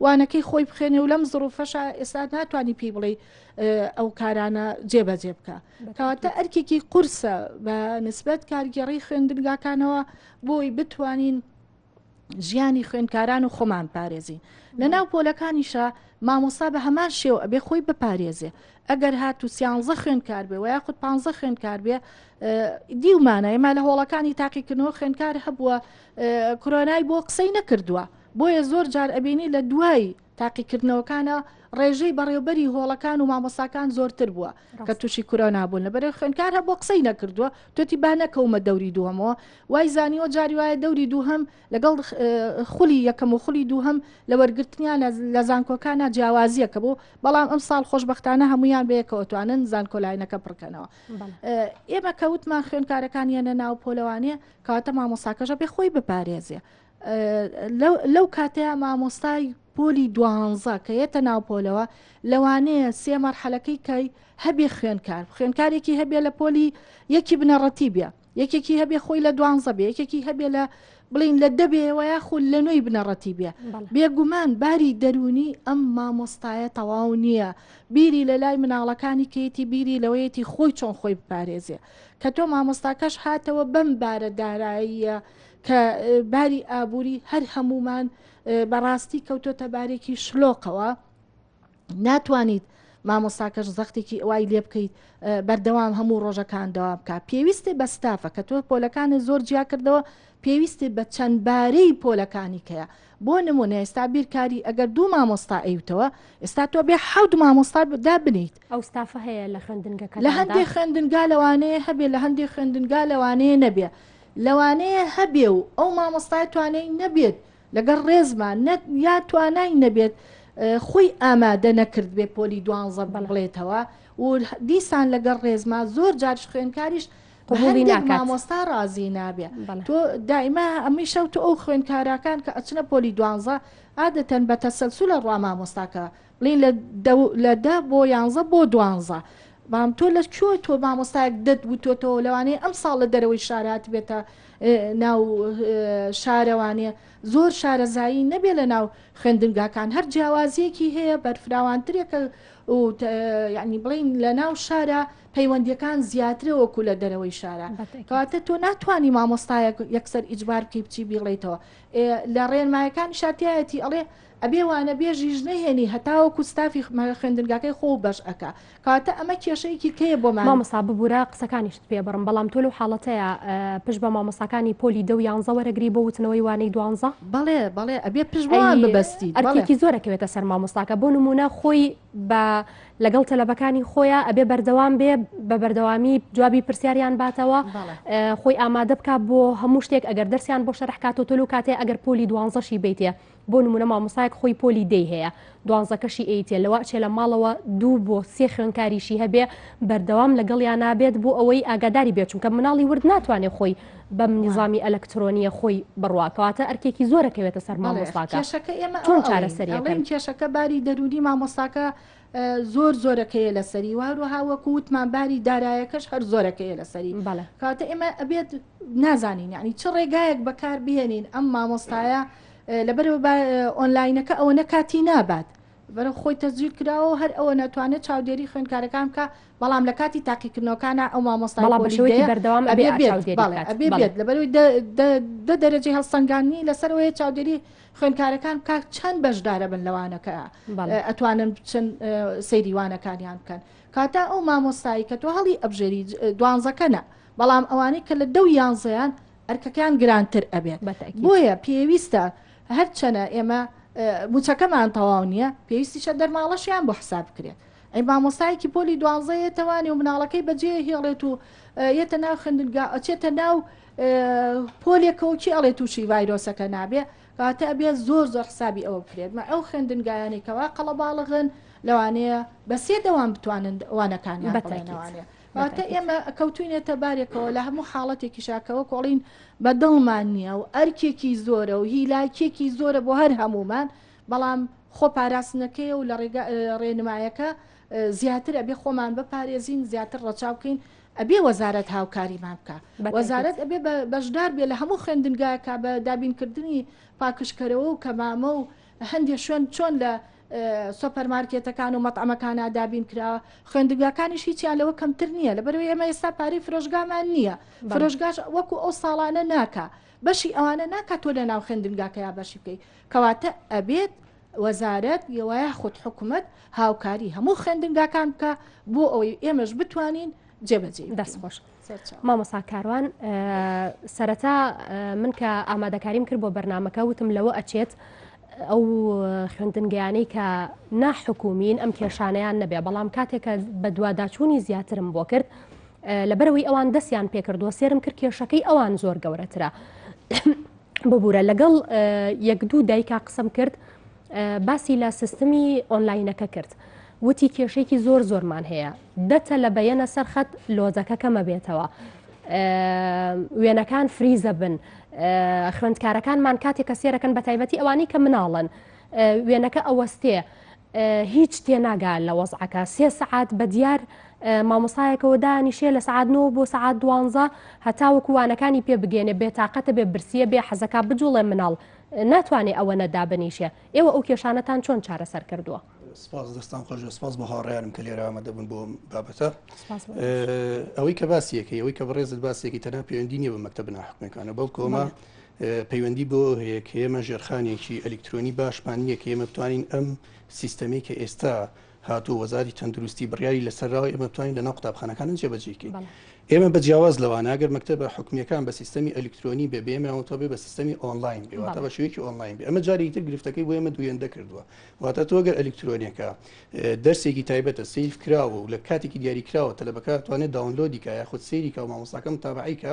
D: وانەکەی خۆی بخێنێ و لەم زڕوفەشە ئێستا ناتوانانی پێی بڵێ ئەو کارانە جێبەجێ بکە کەواتە ئەرکێکی قورسە بە نسبەت کارگێڕی خوێندنگاکانەوە بۆی بتوانین ژیانی خوێنکاران و خۆمان پارێزین لە ناو پۆلەکانیشە مامۆستا بە هەمان شێو ئەبێ خۆی بپارێزێ ئەگەر هات و سیانزە خوێنکار بێ و یاخود پ خوێنکار بێ دیومانە ئێمە لە هۆڵەکانی تاقیکردنەوە خوێنکار هەبووە کرۆنای بۆ قسەی نەکردووە بۆیە زۆر جار ئەبینی لە دوای تاقیکردنەوەکانە ڕێژەی بەڕێوبەری هۆڵەکان و مامۆساکان زۆرتر بووە کە تووشی کورۆنا بوون لە بەرەی خوێنکار هە بۆ قسەی نەکردووە توتی با نەکەومە دەوری دووەمەوە وای زانیوە جاری وایە دەوری دووهم لەگەڵ خولی یەکەم و خولی دووهم لە وەرگرتنیان لە زانکۆکانە جیاوازیەکە بوو بەڵام ئەم ساڵ خۆشببختانە هەمویان بەیەکەوەتوانن زانکۆلاینەکە پڕکەنەوە ئێمە کەوتمان خوێنکارەکان یەنە ناو پۆلەوانێ کاتە مامۆساکەشە پێ خۆی بپارێزێ لەو کاتەیا مامۆستای پۆلی دوانزە کە یەتە ناو پۆلەوە لەوانەیە سێ مەرحەلەکەی کای هەبێ خوێنکار خوێنکارێکی هەبێ لە پۆلی یەکی بنەڕەتی بێ یەکێکی هەبێ خۆی لە دوانزە بێ یەکێکی هەبێ لە بڵین لە دەبێ و یاخو لە نوێی بنەڕەتی بێ بێگومان باری دەرونی ئەم مامۆستایە تەواو نییە بیری لە لای مناڵەکانی کەیتی بیری لەوەیەتی خۆی چۆن خۆی بپارێزێ کە تۆ مامۆستاکەش هاتەوە بەم بارە داراییە کە باری ئابووری هەر هەمومان بەڕاستی کەوتۆتە بارێکی شلۆقەوە ناتوانیت مامۆستاکەش زەختێکی ئەوای لێ بکەیت بەردەوام هەموو ڕۆژەکان دەوا بکە پێویستێ بە ستافە کە تۆ پۆلەکانی زۆر جیا کردەوە پێویستی بە چەند بارەی پۆلەکانی کەیە بۆ نمونە ئێستا بیرکاری ئەگەر دوو مامۆستا ئەیوتەوە ئێستا تۆ بێ حەوت مامۆستا دا بنیت ئەو ستافە هەیە
A: لە خوێندنگەکە لە هەندێک خوێندنگا
D: لەوانەیە هەبێ لە هەندێک خوێندنگا لەوانەیە نەبێ لەوانەیە هەبێ و ئەو مامۆستای توانای نەبێت لەگەڵ ڕێزما نەت یا توانای نەبێت خۆی ئامادە نەکرد بێ پۆلی دوانزە بڵێتەوە و دیسان لەگەڵ ڕێزما زۆر جارش خوێنکاریش قبولی ناکات مامۆستا ڕازی نابێ تۆ دائما ئەمی شەوت ئەو خوێنکاراکان کە ئەچنە پۆلی دوانزە عادەتەن بە تەسەلسو لە ڕوا مامۆستاکە ڵین لە دە لە دە بۆ یانزە بۆ دوانزە بام تۆ لە کوێ تۆ مامۆستایەک دەت وتۆتەوە لەوانەیە ئەم ساڵ لە دەرەوەی شارات بێتە ناو شارەوانێ زۆر شارەزایی نەبێ لە ناو خوێندنگاکان هەر جیاوازیەکی هەیە بەرفراوانترێکە و یعنی بڵین لە ناو شارە پەیوەندیەکان زیاترە وەکو لە دەرەوەی شارە کەواتە تۆ ناتوانانی مامۆستایەک یەکسەر ئیجبار بکەی بچی بیڵیتەوە لە ڕێنمایەکانی شاتایەتی ئەڵێ ئەبێ وانە بێژیش نەهێنی هەتاوەکو ستافی خوێندنگاکەی خۆو بەش ئەکا کەواتە ئەمە کێشەیەکی کەیە بۆمان. مامۆستا ببورە
A: قسەکانیشت پێ بڕم بەڵام تۆ لەو حاڵەتەیا پشت بە مامۆستاکانی پۆلی دە و یانزە وەرەگری بۆ وتنەوەی وانەی دوانزە؟ بەڵێ بەڵێ ئەبێ
D: پشت بەوان ببەستیت بەڵێ. ئەرکێکی زۆرەکەوێتە
A: سەر مامۆستاکە بۆ نموونە خۆی بە لەگەڵ تەلەبەکانی خۆیا ئەبێ بەردەوام بێ بە بەردەوامی جوابی پرسیاریان باتەوە خۆی ئامادە بکات بۆ هەموو شتێک ئەگەر دەرسیان بۆ شەرحکاتۆ تۆلو کاتێ ئەگەر پۆلی دوانزەشی بیتێ بۆ نمونە مامۆستایەک خۆی پۆلی دەی هەیە دوانزەکەشی ئەیتێ لەوە ئەچێ لە ماڵەوە دوو بۆ سێ خوێنکاریشی هەبێ بەردەوام لەگەڵیان نابێت بۆ ئەوەی ئاگاداری بێت چونکە مناڵی ورد ناتوانێت خۆی بەم نیزامی ئەلکترۆنیە خۆی بڕواکەواتە ئەرکێکی زۆرەکەوێتە سەر مامۆستاکە کێشەکە ئێمە چۆن
D: چارەسەریەکەن
A: کێشەکە باری
D: دەرونی مامۆستاکە زۆر زۆرەکەیە لەسەری وهروەها وەکو وتمان باری دارایەکەش هەر زۆرەکەیە لەسەری بەڵێ کاتە ئێمە ئەبێت نازانین یعنی چ ڕێگایەک بەکار بهێنین ئەم مامۆستایە لەبەرەوە ئۆنلاینەکە ئەوە نەکاتی نابات بەرە خۆی تەزیر کراوە هەر ئەوە ناتوانێت چاودێری خوێنکارەکان کە بەڵام لە کاتی تاقیکردنەوەکانە ئەو مامۆستا بەشێوەی بەردەوام
A: ئەبێت
D: لەبەرەوەی دە دەرەجەی هەڵسەنگانی لەسەرەوەی چاودێری خوێنکارەکان بکە چەند بەشدارەبن لەوانەکەە ئەتوانن بچن سەیریوانەکانیان بکەن کاتا ئەو مامۆستایی کە تۆ هەڵی ئەبژێری دوانزەکەە بەڵام ئەوانەی کە لە دەو یانزەیان ئەرکەکان گرانتر ئەبێت بۆیە پێویستە هەرچەنە ئێمە موچەکەمان تەواو نییە پێویستیشە دەرماڵەشیان بۆ حساب بکرێت ئەی مامۆستایەکی پۆلی دوانزەیە توانێ و مناڵەکەی بەجێ هێڵێت و یەتە ناو خوێندنگا ئەچێتە ناو پۆلێکەوە کێ ئەڵێ تووشی ڤایرۆسەکە نابێ کاتە ئەبێت زۆر زۆر حسابی ئەوە بکرێت مە ئەو خوێندنگایانی کەوا قەڵەباڵغن لەوانەیە بە سێ دەوام بتوانن وانەکانیان بەتەوانێ واتە ئێمە کەوتوینێتە بارێکەوە لە هەموو حاڵەتێکی شاکەوە کۆڵین بە دڵمان نییە و ئەرکێکی زۆرە و هیلاکێکی زۆرە بۆ هەر هەمومان بەڵام خۆ پاراستنەکەی و لە ڕێنمایەکە زیاتر ئەبێ خۆمان بپارێزین زیاتر ڕەچاو بکەین ئەبێ وەزارەت هاوکاریمان بکا وەزارەت ئەبێ بەشدار بێ لە هەموو خوێندنگاکە بە دابینکردنی پاکشکەرەوە و کەمامە و هەندێک شوێن چۆن لە سۆپەرمارکێتەکان و مەتعمەکان ئادابین کراوە خوێندگاکانیش هیچیان لەوە کەمتر نییە لە بەرەوەی ئەمە ئێستا پارەی فرۆشگامان نییە فرۆشگاش وەکو ئەو ساڵانە ناکە بەشی ئەوانە ناکات تۆ لە ناو خوێندنگاکەیا بەشی بکەیت کەواتە ئەبێت وەزارەت یواخود حکومەت هاوکاری هەموو خوێندنگاکان بکە بۆ ئەوەی ئێمەش بتوانین جێبەجێ دەست خۆش
A: مامۆسا کاروان سەرەتا من کە ئامادەکاریم کرد بۆ بەرنمەکە وتم لەوە ئەچێت ئەو خوێندنگەیانەی کە ناحکومین ئەم کێشانیان نەبێ بەڵام کاتێکە بە دوواداچوونی زیاترم بۆ کرد لەبەرەوەی ئەوان دەستیان پێکردووە سێرم کرد کێشەکەی ئەوان زۆر گەورەترە. ببورە لەگەڵ یەک دوو دایکا قسم کرد باسی لە سیستمی ئۆنلاینەکە کرد وتی کێشێکی زۆر زۆرمان هەیە دەتە لە بەیەنە سەرخەت لۆزەکە کەمە بێتەوە وێنەکان فریزە بن خوێندکارەکانمان کاتێک کە سێرەکەن بە تایبەتی ئەوانەی کە مناڵن وێنەکە ئەوەستێ هیچ تێناگا لە وەزعەکە سێ سەعات بە دیار مامۆسایەکەوە دانیشێ لە سعات نۆ بۆ سعات دوانزە هەتا وەکووانەکانی پێ بگەێنێ بێ تااقەتە بێ برسیە بێ حەزەکە بجوڵێ مناڵ ناتوانێ ئەوە نەدا بنیشێ ئێوە ئەو کێشانەتان چۆن چارەسەر کردووە سپاس دەستان
E: خۆش سپاس بە هاڕیانم کە لێرە ئامادە بوون بۆ بابەتە ئەوەی کە باسیەکەی ئەوەی کە بەڕێزت باسێکی تەنها پەیوەندی نیە بە مەکتتە بناحکمەکانە بەڵکۆمە پەیوەندی بەوە هەیە کە ئێمە ژێرخانێکی ئەلیکترۆنی باشمان نییە کە ئێمە بتوانین ئەم سیستەمی کە ئێستا هاتو وەزاری تەندروستی بڕیاری لەسەرراوە ئێمە بتوانین لەناو قوتابخانەکانە جێبەجێکەین ئێمە بە جیاواز لەوان ئەگەر مەکتتەبە حکومیەکان بە سیستەمی ئەلیکترۆنی بێ بێمەوەتە بێ بە سیستەمی ئۆنلاین بێواتە بە شوێکی ئۆنلاین بێ ئەمە جاری تر گرفتەکەی بۆ ئێمە دوێن دەکردووە واتە تۆگەر ئەلیکترۆنیەکە دەرسێکی تایبەتە سیف کراوە و لە کاتێکی دیاریکراوە تەلبەکە توانێت داونلۆدیکە یاخود سێریکە و مامۆساکەم تابعیکە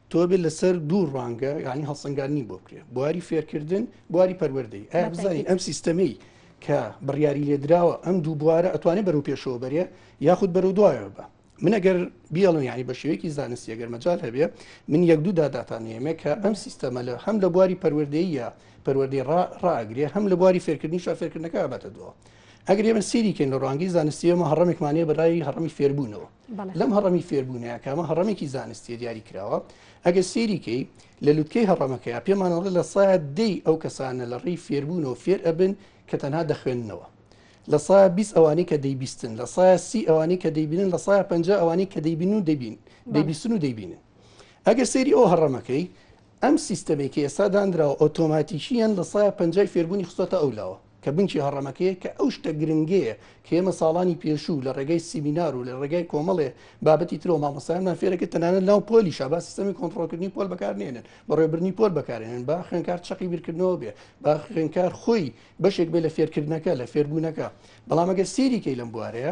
E: تۆبێ لەسەر دوو ڕوانگە یعنی هەڵسەنگاندنی بۆ بکرێ بواری فێرکردن بواری پەروەردەی ئایا بزانین ئەم سیستەمەی کە بڕیاری لێدراوە ئەم دوو بوارە ئەتوانێت بەرەو پێشەوە بەرێ یاخود بەرەو دوایەوە بە من ئەگەر بیاڵم یعنی بە شێوەیەکی زانستی ئەگەر مەجال هەبێ من یەک دوو داداتانێمێ کە ئەم سیستەمە لە هەم لە بواری پەروەردەیە پەروەردەی ڕاگرێ هەم لە بواری فێرکردنی شا فێرکردنەکە بەتە دووە ئەگەر ئێمە سیریکەین لە ڕوانگی زانستیەمە هەڕمێکمانەیە بەلای هەڕمی فێربوونەوە لەم هەڕەمی فێربوونەیە کامە هەڕەمێکی زانستیە دیاری کراوە ئەگەر سێریکەی لە لوتکەی هەڕەمەکەی پێمانەوە لە سا دەی ئەو کەسانە لە ڕێی فێربوونەوە فێر ئەبن کە تەنها دەخوێندنەوە لە سا 20 ئەوانەی کە دەیبیستن لە سا سی ئەوانەی کە دەیبینن لە سا پ ئەوانەی کە دەیبین و دەبین دەبیستن و دەیبینن ئەگەر سێری ئەو هەڕەمەکەی ئەم سیستەمەی کە ئێستا دانراوە ئۆتۆماتیکییەن لە سایە پەنجای فێربوونی خستۆتە ئەو لاوە، کە بنچی هەڕەمەکەیە کە ئەو شتە گرنگەیە کە ئێمە ساڵانی پێشوو لە ڕێگای سیمینار و لە ڕێگای کۆمەڵێ بابەتی ترەوە مامۆستایانمان فێرەکرد تەنانەت ناو پۆلیشا با سیستەمی کۆنتڕۆڵکردنی پۆل بەکارنەهێنن بەڕێوەبردنی پۆل بەکارهێنن با خوێندکار چەقی بیرکردنەوە بێ با خوێندکار خۆی بەشێک بێ لە فێرکردنەکە لە فێربوونەکە بەڵام ئەگەر سێریکەی لەم بوارەیە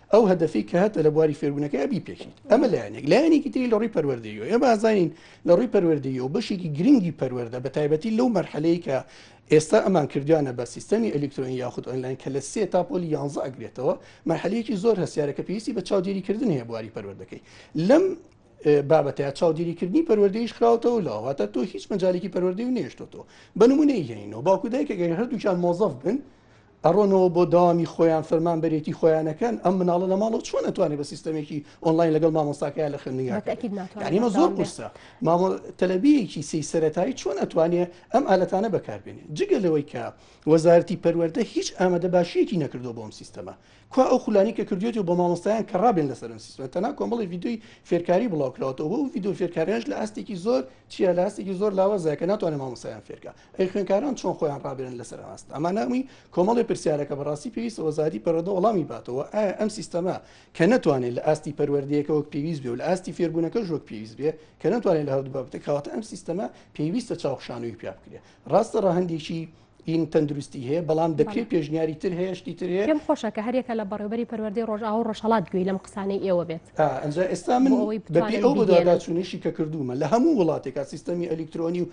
E: ئەو هەدەفەی کە هەتە لە بواری فێربوونەکەی بیپێکیت ئەمە لایەنێک لایەنێکی تری لە ڕووی پەروەردەیەوە ئێمە ئازانین لە ڕووی پەروەردەیە و بەشێکی گرنگی پەروەەردە بە تایبەتی لەو مەرحەلەیە کە ئێستا ئەمان کردویانە بە سیستەمی ئەلکترۆنی یاخود ئۆنلاین کە لە سێ تا پۆلی یانزە ئەگرێتەوە مەحلەیەکی زۆر هەسیارەکە پێویستی بە چاودێریکردن هەیە بواری پەروەردەکەی لەم بابەتە چاودێریکردنی پەروەردەیش خراوەتەوە لاواتە تۆ هیچ مەجالێکی پەروەردەی و نێشتۆ بە نمونەی هێنینەوە باکوودای کە گەر هەردووچان مۆزەف بن ئەڕۆنەوە بۆ دەوامی خۆیان فەرمانبەرێتی خۆیان ئەکەن ئەم مناڵە لە ماڵەوە چۆن ئەتوانێت بە سیستەمێکی ئۆنلاین لەگەڵ مامۆستاکەیان لە خوێندنگاکەمە زۆر قورسە مامۆ تەلبیەکی سی سەتایی چۆن ئەتوانێت ئەم ئالەتانە بەکاربێنێت جگە لەوەی کە وەزارتی پەروەەردە هیچ ئامادە باشیەکی نەکردو بۆم سیستەمە کوا ئەو خولانی کە کردوێت و بۆ مامۆستایان کە ڕابێن لەسەر سیستمە تەنا کۆمەڵی یددیوی فێرکاری بڵاوکراوەوە و یددیو فێرکاریش لە ئاستێکی زۆر چیە لە ئاستێکی زۆر لاوەزای کە ناتوانێت مامۆسایان فێرکە ئەی خوێنکاران چۆن خۆیان ڕابێنن لەسەر ئاست ئەما ناوی کۆمەڵی پرسیارەکە بەڕاستی پێویستە وەزاری پەرۆدە وەڵامی باتەوە ئایا ئەم سیستەما کە نەتوانێت لە ئاستی پەروەردەیەکە وەک پێویست بێ و لە ئاستی فێربوونەکە ژۆک پێویست بێ کە نەتوانێت لە هەردوو بابەتە کاواتە ئەم سیستەما پێویستە چاوخشانەوەی پیا بکرێت ڕاستە ڕەهندێکی این تەندروستی هەیە بەڵام دەکرێت پێشنیاری تر هەیەشتی تر هەیە پێم خۆشە کە هەرێکە لە
A: بەڕێوبەری پەروەردەی ڕۆژاو ڕۆژهڵات گوێی لەم قسانەی ئێوە بێت ئەنج ئێستا من
E: بەپی ئەو بەداداچوونیشی کە کردومە لە هەموو وڵاتێکا سیستەمی ئەلیکترۆنی و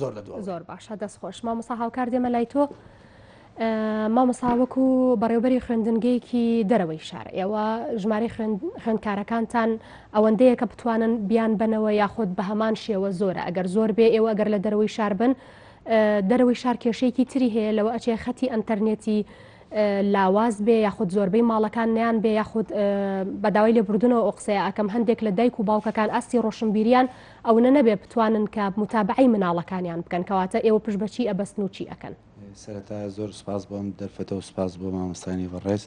E: زۆر لە دواوە. زۆر باشە دەست خۆش
A: مامۆسا هاوکار دێمە لای تۆ مامۆسا وەکو بەڕێوبەری خوێندنگەیەکی دەرەوەی شار ئێوە ژمارە خوێندکارەکانتان ئەوەندەیە کە بتوانن بیان بنەوە یاخود بە هەمان شێوە زۆرە ئەگەر زۆر بێ ئێوە ئەگەر لە دەرەوەی شار بن دەرەوەی شار کێشەیەکی تری هەیە لەوە ئەچێ خەتی ئەتەرنێتی لاواز بێ یاخود زۆربەی ماڵەکان نیان بێ یاخود بەداوای لێبوردنەوە ئۆقسەیە ئەکەم هەندێک لە دایک و باوکەکان ئاستی ڕۆشنبیریان ئەونە نەبێ بتوانن کە موتابەعەی مناڵەکانیان بکەن کەواتە ئێوە پشت بە چی ئەبەستن و چی ئەکەن؟ سەرەتا زۆر
F: سوپاس بۆ ئەم دەرفەتە و سوپاس بۆ مامۆستایانی بەڕێز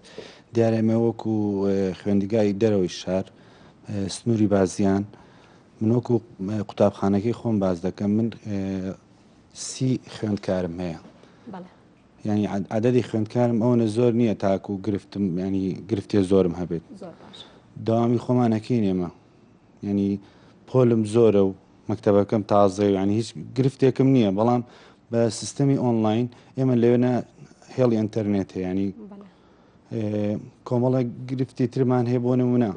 F: دیارە ئێمە وەکو خوێندگای دەرەوەی شار سنووری بازیان من وەکو قوتابخانەکەی خۆم باز دەکەم من سی خوێندکارم هەیە بەڵێ ینی عددی خوێندکارم ئەوەنە زۆر نییە تاکو و گرفتم ینی گرفتێ زۆرم هەبێت زۆر باشە داوامی خۆمانەکەی نێمە یانی پۆلم زۆرە و مەکتەبەکەم تازەیە و یانی هیچ گرفتێکم نییە بەڵام بە سیستەمی ئۆنلاین ئێمە لەوێنە هێڵی ئەتەرنێت هەیە ینی کۆمەڵە گرفتی ترمان هەیە بۆ نمونە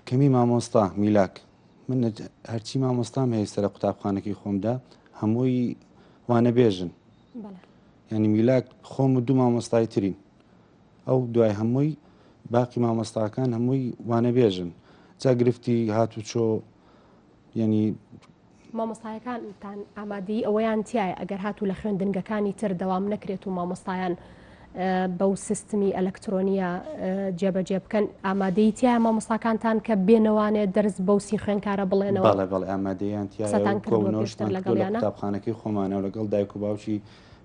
F: کەمی مامۆستا میلاک من هەرچی مامۆستام هەیە سەر قوتابخانەکەی خۆمدا هەمووی وانە بێژن ینی میلاک خۆم و دوو مامۆستای ترین ئەو دوای هەمووی باقی مامۆستاکان هەمووی وانەبێژن جا گرفتی هاتوچۆ یعنی
A: مامۆستایەکانتان ئامادەی ئەوەیان تایە ئەگەر هاتوو لە خوێندنگەکانی تر دەوام نەکرێت و مامۆستایان بەو سیستمی ئەلەکترۆنیە جێبەجێ بکەن ئامادەی تیا مامۆستاکانتان کە بێنەوانێت دەرس بەو سی خوێنکارە بڵێنەوە بەڵێ بەڵێ ئامادەیان
F: تیاان کردنەوە لەگەڵ قوتابخانەکەی خۆمانە و لەگەڵ دایک و باوکی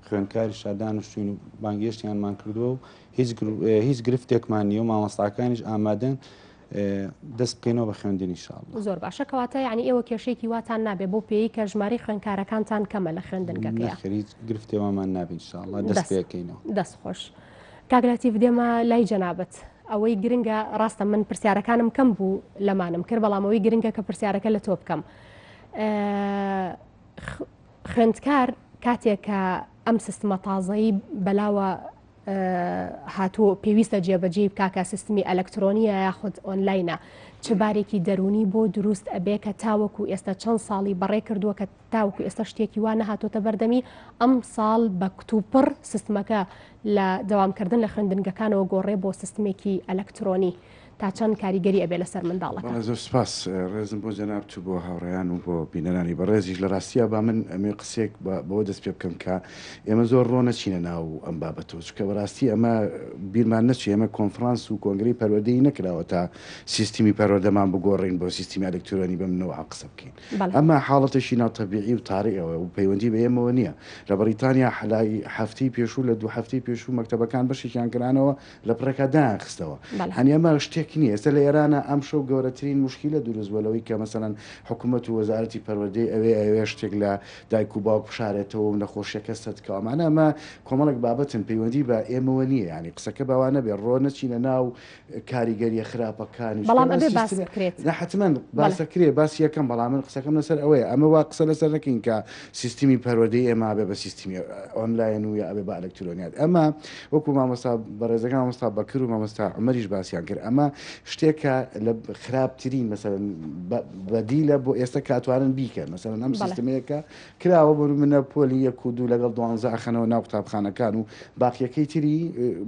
F: خوێندکاریش تا دانیشتووین و بانگهێشتیانمان کردووە و هیچ گرفتێکمان نیە و مامۆستاکانیش ئامادەن دەست بکەینەوە بە خوێندنی شاڵ زۆر باشە کەواتە
A: یعنی ئێوە کێشێکی واتان نابێ بۆ پێی کە ژماری خوێندکارەکانتان کەمە لە
F: خوێندنگەکە
A: خرید گرفتێوامان
F: نابین شاڵە
A: دەست
F: پێکەینەوە
A: دەست خۆش کاگراتی بدێمە لای جەنابەت ئەوەی گرنگە ڕاستە من پرسیارەکانم کەم بوو لەمانم کرد بەڵامەوەی گرنگە کە پرسیارەکە لە تۆ بکەم خوێندکار کاتێک کە ئەم سیستمە تازەی بەلاوە هاتوو پێویستە جێبەجێ بکە کە سیستمی ئەلکترۆنیە یاخود ئۆنلاینە چ بارێکی دەرونی بۆ دروست ئەبێ کە تاوەکو ئێستا چەند ساڵی بەڕێ کردووە کە تاوەکو ئێستا شتێکی وا نەهاتۆتە بەردەمی ئەم ساڵ بە کتوپڕ سیستمەکە لە داوامکردن لە خوێندنگەکانەوە گۆڕێ بۆ سیستمێکی ئەلکترۆنی تا چەند کاریگەری ئەبێ لەسەر منداڵەکە. بەڵێ زۆر سوپاس
G: ڕێزم بۆ جەنابت و بۆ هاوڕێیان و بۆ بینەرانی بەڕێزیش لە ڕاستیا با من ئەمێ قسەیەک بە بەوە دەست پێ بکەم کە ئێمە زۆر ڕۆ نەچینە ناو ئەم بابەتەوە چونکە بەڕاستی ئەمە بیرمان نەچێ ئێمە کۆنفڕانس و کۆنگرەی پەروەردەی نەکراوە تا سیستمی پەروەردەمان بگۆڕین بۆ سیستمی ئەلکترۆنی بەم نەوعە قسە بکەین بەڵێ ئەمە حاڵەتێکی ناتەبیعی و تاریەوە و پەیوەندی بە ئێمەوە نییە لە بەڕیتانیا حەلای هەفتەی پێشوو لە دوو هەفتەی پێشوو مەکتەبەکان بەشێکیان کرانەوە لە پڕێکا دایان خستەوە هەنیە ماو شتێک نییە ئێستا لە ئێرانە ئەم شەو گەورەترین مشکیلە دروست بووە لەوەی کە مەسەەن حکوومەت و وەزارەتی پەروەدەی ئەوێ ئەوێ شتێک لە دایک و باوک بشارێتەوە و نەخۆشیەکە سەدکەوەمانە ئەمە کۆمەڵک بابەتن پەیوەندی بە ئێمەوە نییە ینی قسەکە باوانە بێ ڕۆ نەچینە ناو کاریگەریە خراپەکانی
A: حتمما
G: باس یەکەم بەڵام من قسەکەم لەسەر ئەوەیە ئەمە وا قسە لەسەر نەکەین کە سیستمی پەروەردەی ئێمە ئەبێ بە سیستمی ئۆنلاین و یا ئەبێ بە ئەلکترۆنیات ئەمە وەکو مامۆستا بەڕێزەکە مامۆستا بەکر و مامۆستا عمەریش باسییان کرد ئەمە شتێکە لە خراپترین مەسەرن بەدیلە بۆ ئێستا کاتوارن بیکەن مەسەرن ئەم سیستمەیەکە کراوە بۆ منە پۆلی یەک و دوو لەگەڵ دوانزە ئەخەنەوە ناو قوتابخانەکان و باقیەکەی تری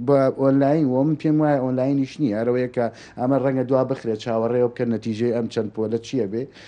G: بە ئۆنلاین و من پێم وایە ئۆنلاینیش نییە ئەرەوەیەکە ئەمە ڕەنگە دوا بخرێت چاوەڕێەوە بکەن نەتیجەی ئەم چەند پۆلە چییە بێ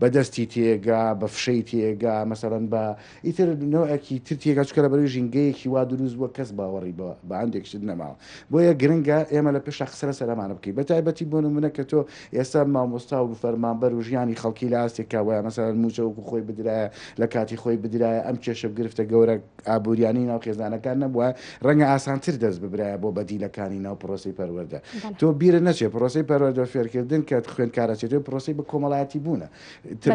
G: بە دەستی تێگا، بە فشەی تێگا، مەسەلەن بە ئیتر نەوعێکی تر تێگا، چونکە لەبەرەی ژینگەیەکی وا دروست بووە کەس باوەڕی بە بە هەندێک شت نەماوە. بۆیە گرنگە ئێمە لە پێشا قسە لەسەر ئەمانە بکەین. بە تایبەتی بۆ نموونە کە تۆ ئێستا مامۆستا و فەرمانبەر و ژیانی خەڵکی لە ئاستێکا وایە مەسەلەن مووچە وەکوو خۆی بدرایە، لە کاتی خۆی بدرایە، ئەم کێشە و گرفتە گەورە، ئابووریانەی ناو خێزانەکان نەبووایە، ڕەنگە ئاسانتر دەست ببرایە بۆ بەدیلەکانی ناو پرۆسەی پەروەردە. تۆ بیرت نەچێت پرۆسەی پەروەردە و فێرکردن کە خوێندکارە چێتەوەی پرۆسەی بە کۆمەڵایەتیبوونە.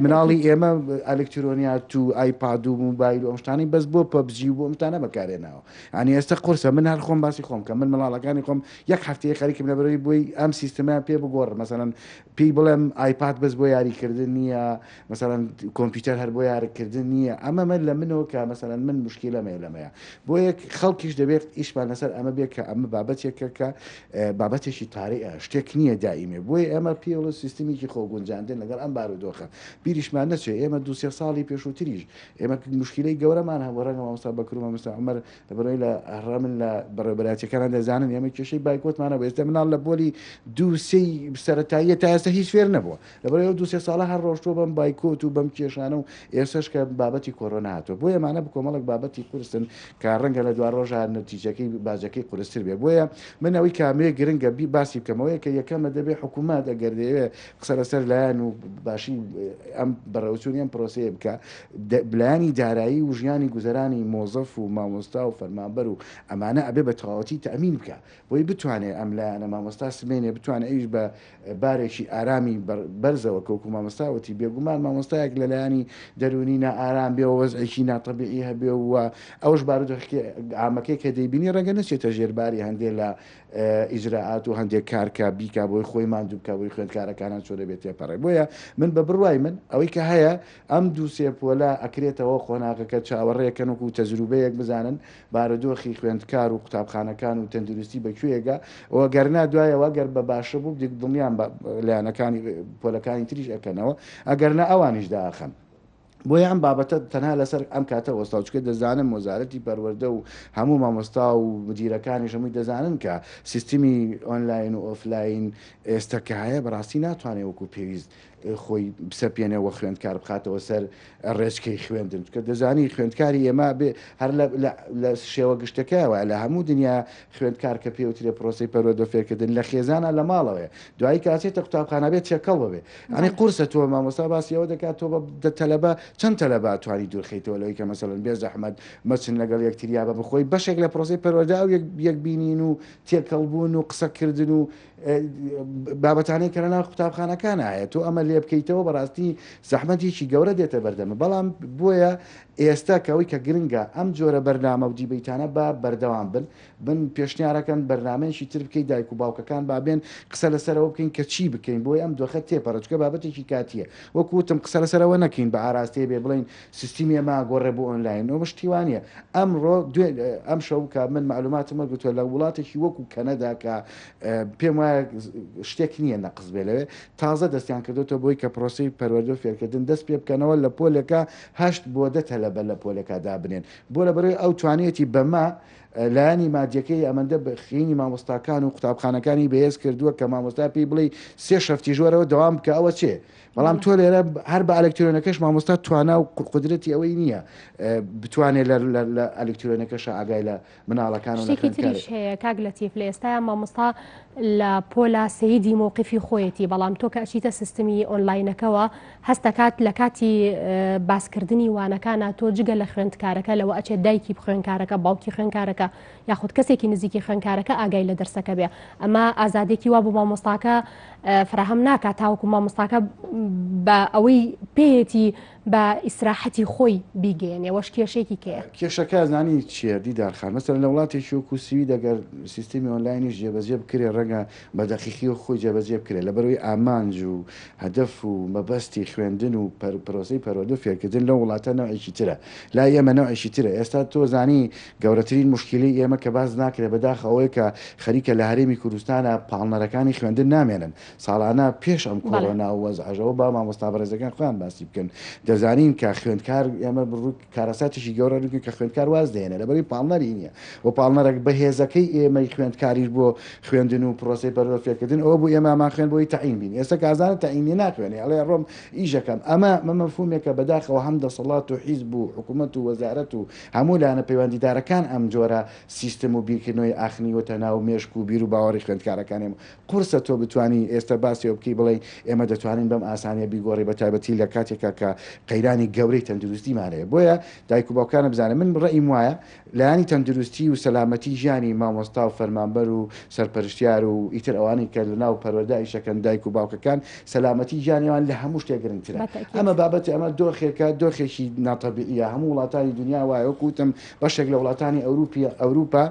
G: مناڵی ئێمە ئەلکترۆنیات و ئایپاد و موبایل و ئەم شتانەی بەس بۆ پەبجی و بۆ ئەم شتانە بەکارهێناوە. یانی ئێستە قورسە. من هەر خۆم باسی خۆم کەم. من منداڵەکانی خۆم یەک هەفتەیە خەریکم لەبەرئەوەی بۆی ئەم سیستمەیان پێ بگۆڕم. مەسەلەن پێی بڵێم ئایپاد بەس بۆ یاریکردن نییە. مەسەلەن کۆمپیوتەر هەر بۆ یارکردن نییە ئەمە مە لە منەوە کە مەسەلەن من مشکیلەمەیە لەمەیە بۆ یەک خەڵکیش دەبێت ئیشمان لەسەر ئەمە بێت کە ئەمە بابەتێکە کە بابەتێکی تاریئە شتێک نییە دائیمێ بۆی ئەمە پێڵە سیستمێکی خۆگونجاندن لەگەڵ ئەم بارودۆخە بیریشمان نەچێت ئێمە دو سێ ساڵی پێشووتریش ئێمە مشکلەی گەورەمان هەبوو ڕەنگە مامستا بەکرومە مستا عمر لەبەرەوەی لە هەڕەمن لە بەڕێبەراتەکانان دەزانن ئێمە کێشەی بایکۆتمانە ئێستا مناڵ لە بۆلی دوو سێی سەتاییە تا ئێستا هیچ فێر نەبووە لەبەرئەوەی ئەو دوو سێ ساڵە هەر ڕۆشتووە بەم بایکۆت و بەم کێشانە و ئێسەش کە بابەتی کۆرۆنا هاتووە بۆیە ئەمانە بکۆمەڵێک بابەتی قورسن کە ڕەنگە لە دوارۆژا نەتیجەکەی باجەکەی قورستر بێ بۆیە من ئەوی کامەیە گرنگە بی باسی بکەمەوەی کە یەکەمە دەبێ حکوومەت ئەگەر دەیەوێ قسە لەسەر لایەن و باشی ئەم بەڕێوچوونی ئەم پرۆسەیە بکە بلایانی دارایی و ژیانی گوزەرانی مۆزەف و مامۆستا و فەرمانبەر و ئەمانە ئەبێ بە تەواوەتی تەمین بکە بۆی بتوانێت ئەم لایەنە مامۆستا سمێنێ بتوانێت ئەویش بە بارێکی ئارامی بەرزەوە کەوکو مامۆستا وتی بێگومان مامۆستایەک لە لایەنی دەروونی نائارام بێ و وەزعێکی ناتەبیعی هەبێ و ئەوش بارودۆخی ئامەکەی کە دەیبینی ڕەنگە نەچێتە ژێرباری هەندێک لە ئیجراعات و هەندێک کارکە بیکا بۆی خۆی ماندوو بکە بۆی خوێندکارەکانان چۆ دەبێت تێپەڕێ بۆیە من بە بڕوای من ئەوەی کە هەیە ئەم دوو سێ پۆلە ئەکرێتەوە قۆناغەکە چاوەڕێکەن وکو تەجروبەیەک بزانن بارودۆخی خوێندکار و قوتابخانەکان و تەندروستی بە کوێیەگە و گەرنا دوایەوە گەر بە باشە بوو بدێک دڵنیام بە لایەنەکانی پۆلەکانی تریش ئەکەنەوە ئەگەرنا ئەوانیش داخەن. بۆیە ئەم بابەتە تەنها لەسەر ئەم کاتە وەستاو چکە دەزانم وەزارەتی پەروەردە و هەموو مامۆستا و مدیرەکانیش هەمووی دەزانن کە سیستمی ئۆنلاین و ئۆفلاین ئێستا کە هەیە بەڕاستی ناتوانێ وەکو پێویست خۆی بسەپێنێ و خوێندکار بخاتەوە سەر ڕێچکەی خوێندن کە دەزانی خوێندکاری ئێمە بێ هەر لە شێوە گشتەکەەوە لە هەموو دنیا خوێندکار کە پێوترێ پرۆسی پەرۆدە فێرکردن لە خێزانە لە ماڵەوەێ دوای کاتێتە قوتابخانە بێت چێکەڵ بێ ئەنی قورسە تۆ مامۆستا باسیەوە دەکات تۆ بە تەلەبە چەند تەلەبا توانی دوورخیتەوە لەوەی کە مەسەن بێ زەحمەت مەچن لەگەڵ یەکتریا بە بخۆی بەشێک لە پرۆسی پەرۆدا و یەکبینین و تێکەڵبوون و قسەکردن و بابەتانەی کە لەناو قوتابخانەکان هەیە تۆ ئەمە لێ بکەیتەوە بەڕاستی زەحمەتێکی گەورە دێتە بەردەمە بەڵام بۆیە ئێستا کەەوەی کە گرنگە ئەم جۆرە بەرنامە و دیبیتانە بە بەردەوام بن بن پێشنیارەکەن بەرنمەیەکی تر بکەیت دایک و باوکەکان بابێن قسە لەسەرەوە بکەین کە چی بکەین بۆی ئەم دۆخە تێپەڕچکە بابەتێکی کاتیە وەکوتم قسە لەسەرەوە نەکەین بە ئاراستەیە بێ بڵین سیستمی ئەمە ئاگۆڕێ بۆ ئۆنلاین ئەوە پشتیوانیە ئەمڕۆ دوێ ئەمشەو کە من معلوماتم وەرگرتووە لە وڵاتێکی وەکو کەنەدا کە پێم وایە شتێک نییە نەقز بێ لەوێ تازە دەستیان کردوێتەوە بۆی کە پرۆسی پەروەردە و فێرکردن دەست پێ بکەنەوە لە پۆلێکە هەشت بۆ دە تەلەبە لە پۆلەکە دابنێن بۆ لە بەرەوەی ئەو توانیەتی بەمە لایەنی مادیەکەی ئەمەندە بخینی مامۆستاکان و قوتابخانەکانی بەهێز کردووە کە مامۆستا پێی بڵێ سێ شەفتی ژۆرەوە دەوام بکە ئەوە چێ بەڵام تۆ لێرە هەر بە ئەلکترۆنەکەش مامۆستا توانا و قدرەتی ئەوەی نییە بتوانێت لە ئەلکترۆنەکەش ئاگای لە مناڵەکان هەیە کاک
A: لە تیف لە ئێستا مامۆستا لە پۆلا سیدی مووقفی خۆیەتی بەڵام تۆ کە ئەچیتە سیستمی ئۆنلاینەکەەوە هەستەکات لە کاتی باسکردنی وانەکانە تۆ جگە لە خوێندکارەکە لەوە ئەچێت دایکی بخوێنکارەکە باوکی خوێنکارەکە یاخود کەسێکی نزیکی خوێندکارەکە ئاگای لە دەرسەکە بێ ئەمە ئازادێکی وا بۆ مامۆستاکە فراهەم ناکات تاوەکو مامۆستاکە بە ئەوەی پێیەتی بە ئیسراحەتی خۆی بیگەێنێ وەش کێشێکی کێ کێشەکە زانی
G: چیە دیدارخان مەسەر لە وڵاتی شوک و سوی دەگەر سیستمی ئۆنلاینیش جێبەجێ بکرێ ڕەنگە بە دەقیقی و خۆی جێبەجێ بکرێت لە بەروی ئامانج و هەدەف و مەبەستی خوێندن و پرۆسی پەرۆدو فێرکردن لە وڵاتە نەوەیکی ترە لا ئێمە نەوەیکی ترە ئێستا تۆ زانی گەورەترین موشکیلەی ئێمە کە باس ناکرێت بەداخ ئەوەیە کە خەریکە لە هەرێمی کوردستانا پاڵنەرەکانی خوێندن نامێنن ساڵانە پێش ئەم کۆرۆنا و وەزعەژەوە با مامۆستا بەڕێزەکان خۆیان باسی بکەن دەزانین کە خوێندکار ئێمە بڕوو کارەساتیشی گەورە ڕووکە کە خوێندکار واز دێنێ لەبەری پاڵنەری نییە و پاڵنەرەک بەهێزەکەی ئێمەی خوێندکاریش بۆ خوێندن و پرۆسی پەروە فێرکردن ئەوە بوو ئێمامان خوێن بۆی تەعین بین ئێستا کازانە تەعینی ناخوێنێ ئەڵێ ڕۆم ئیشەکەم ئەمە مەمەفومێکە بەداخەوە هەم دەسەڵات و حیز بوو حکوومەت و وەزارەت و هەموو لایەنە پەیوەندیدارەکان ئەم جۆرە سیستم و بیرکردنەوەی ئاخنیوەتە ناو مێشک و بیروباوەڕی خوێندکارەکانیان. قورسە تۆ بتوانی ئێستا باسی ئەوە بکەی بڵێی ئێمە دەتوانین بەم ئاسانییە بیگۆڕی بە تایبەتی لە کاتێکا کە قەیرانی گەورەی تەندروستیمان هەیە. بۆیە دایک و باوکانە بزانن. من ڕەئیم وایە لایەنی تەندروستی و سەلامەتی ژیانی مامۆستا و فەرمانبەر و سەرپەرشتیار و ئیتر ئەوانەی کە لە ناو پەروەردە ئیشەکەن دایک و باوکەکان سەلامەتی گیانیان لە هەموو شتێک گرنگترە. ئەمە بابەتە، ئەمە دۆخێکە، دۆخێکی ناتەبیعییە. هەموو وڵاتانی دنیا وایە. وەکو وتم بەشێک لە وڵاتانی ئەوروپی، ئەوروپا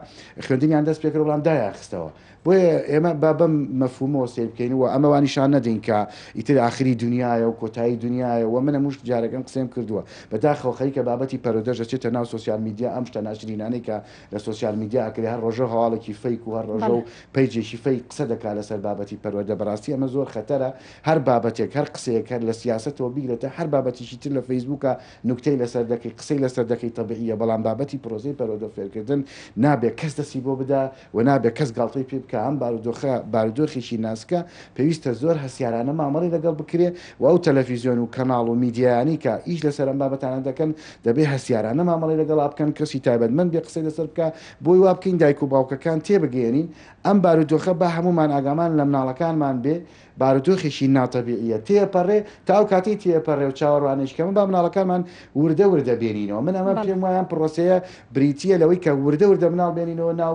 G: خوێندنیان دەست پێکرد، بەڵام دایانخستەوە. بۆیە ئێمە با بەم مەفهوومەوە سەیر بکەین و ئەمە وا نیشان نەدەین کە ئیتر ئاخری دنیایە و کۆتایی دنیایە و من هەموو جارێک ئەم قسەیەم کردووە. بەداخەوە خەریکە بابەتی پەرۆدەش دەچێتە ناو سۆسیال میدیا، ئەم شتە ناشرینانەی کە لە سۆسیال میدیا ئەکرێ هەر ڕۆژەو هەواڵێکی فەیک و هەر ڕۆژەو پەیجێکی فەیک قسە دەکا لەسەر بابەتی پەروەردە بەڕاستی ئەمە زۆر خەتەرە هەر بابەتێک هەر قسەیەک هەر لە سیاسەتەوە بیگرە تا هەر بابەتیکی تر لە فەیسبوکا نوکتەی لەسەر دەکەی قسەی لەسەر دەکەی تەبیعیە بەڵام بابەتی پرۆسەی پەروەردەو فێرکردن نابێ کەس دەستی بۆ بدا و نابێ کەس گاڵتەی پێ بکا ئەم بارودۆخە بارودۆخێکی ناسکە پێویستە زۆر هەستیارانە مامەڵەی لەگەڵ بکرێ و ئەو تەلەفیزیۆن و کەناڵ و میدیایانەی کە ئیش لەسەر ئەم بابەتانە دەکەن دەبێ هەستیارانە مامەڵەی لەگەڵا بکەن، کەسی تایبەتمەند بێ قسەی لەسەر بکا، بۆی وا بکەین دایک و باوکەکان تێبگەیەنین ئەم بارودۆخە با هەموومان ئاگامان لە مناڵەکانمان بێ، بارودۆخێکی ناتەبیعییە تێپەڕێ، تا ئەو کاتەی تێپەڕێ و چاوەڕوانێکی کەمە با مناڵەکانمان وردە وردە بێنینەوە، من ئەمە پێم وایە ئەم پڕۆسەیە بریتییە لەوەی کە وردە وردە مناڵ بێنینەوە ناو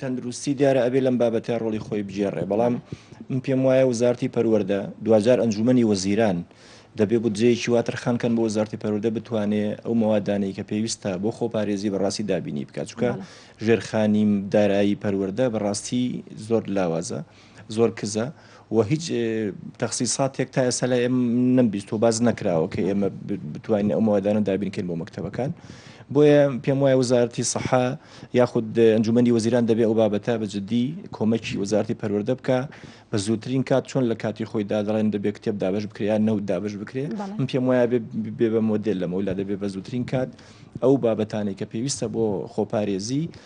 B: تەندروستی دیارە ئەبێ لەم بابەتە ڕۆڵی خۆی بگێڕێ بەڵام من پێم وایە وزارتی پەروەردە دواجار ئەنجومەنی وەزیران دەبێ بودجەیەکی وا تەرخان کەن بۆ وزارتی پەروەردە بتوانێ ئەو مەوادانەی کە پێویستە بۆ خۆپارێزی بەڕاستی دابینی بکات چونکە ژێرخانی دارایی پەروەردە بەڕاستی زۆر لاوازە. زۆر کزە و هیچ تەخسیساتێک تا ئێستا لە ئێم نەمبیست و باز نەکراوە کە ئێمە بتوانین ئەو مادانە دابینکەین بۆ مەکتتەبەکان بۆیە پێم وایە وزارەتی سەحا یاخود ئەنجومی وەزیران دەبێ ئەو بابەتە بە جددی کۆمەکی وزارتی پەروەەردە بکە بە زووترین کات چۆن لە کاتی خۆی دادڵێن دەبێت کتێب دابش بکرێت نەوت دابش بکرێت من پێم وایە بێ بە مۆدل لەمەولا دەبێت بە زووترین کات ئەو بابەتانی کە پێویستە بۆ خۆپارێزی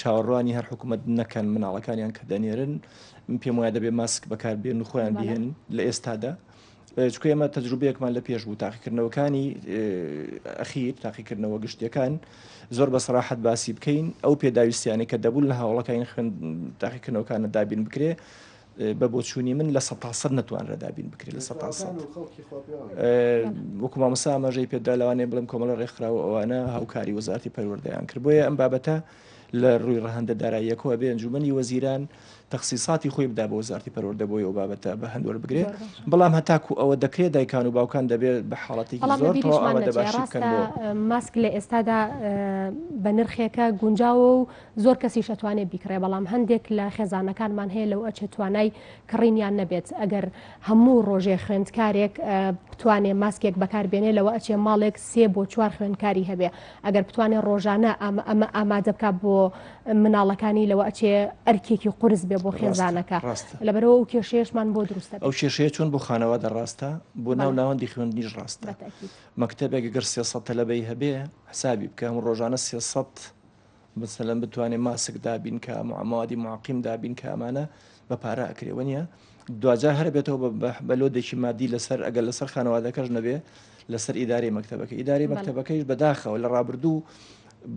B: چاوەڕوانی هەر حکوومەت نەکەن مناڵەکانیان کە دەنێرن پێم وایە دەبێ ماسک بەکار بێن و خۆیان بهێن لە ئێستادا. چکە ئێمە تەجروبەیەکمان لە پێش بوو تاقیکردنەوەکانی ئەخیر تاقیکردنەوە گشتیەکان زۆر بە سراحەت باسی بکەین ئەو پێداویستیانە کە دەبوون لە هاوڵەکانی خوێن تاقیکردنەوەکانە دابین بکرێ بە بۆچوونی من لە سە تاسەد نەتوانرا دابین بکرێت لە سە تاسەد وەکو مامۆسا ئاماژەی پێدا لەوانەیە بڵێم کۆمەڵە ڕێکخراوە ئەوانە هاوکاری وەزارتی پەروەردەیان کرد بۆیە ئەم بابەتە لە ڕووی ڕەهەندە داراییەکەوە بێ ئەنجومەنی وەزیران تەخسیساتی خۆی بدا بە وەزارتی پەروەردە بۆی ئەو بابەتە بە هەندوەر بگرێت بەڵام هەتاکو ئەوە دەکرێت دایکان و باوکان دەبێت بە حاڵەتی بەڵام زۆر لە بیریشمان تەواو ئامادە نەچێ باشی بکەن ڕاستە بۆ ماسک لە
A: ئێستادا اه، بە نرخێکە گونجاوە و زۆر کەسیش ئەتوانێ بیکڕێ بەڵام هەندێک لە خێزانەکانمان هەیە لەو ئەچێ توانای کڕینیان نەبێت ئەگەر هەموو ڕۆژێ خوێندکارێک بتوانێ ماسکێک بەکاربێنێ لەوە ئەچێ ماڵێک سێ بۆ چوار خوێندکاری هەبێ ئەگەر بتوانێ ڕۆژانە ئەمە ئامادە بک بۆ مناڵەکانی لەوە ئەچێ ئەرکێکی قرس بێ بۆ خێزانەکە لەبەرەوە ئەو کێشێشمان بۆ دروستە ئەو کێشەیە چۆن بۆ
B: خانەوە دەڕاستە بۆ ناو ناوەندی خوێندنیش ڕاستە مەکتتەبێک گەر سێسە تەلەبەی هەبێ حسابی بکەم ڕۆژانە سێسە مەسەلەن بتوانێ ماسک دابین کا موادی معقیم دابین کە ئەمانە بە پارە ئەکرێ وە نیە دواجار هەر بێتەوە بە لۆدێکی مادی لەسەر ئەگەر لەسەر خانەوادەکەش نەبێ لەسەر ئیداری مەکتتەبەکە ئیداری مەکتتەبەکەیش بەداخەوە لە ڕابردوو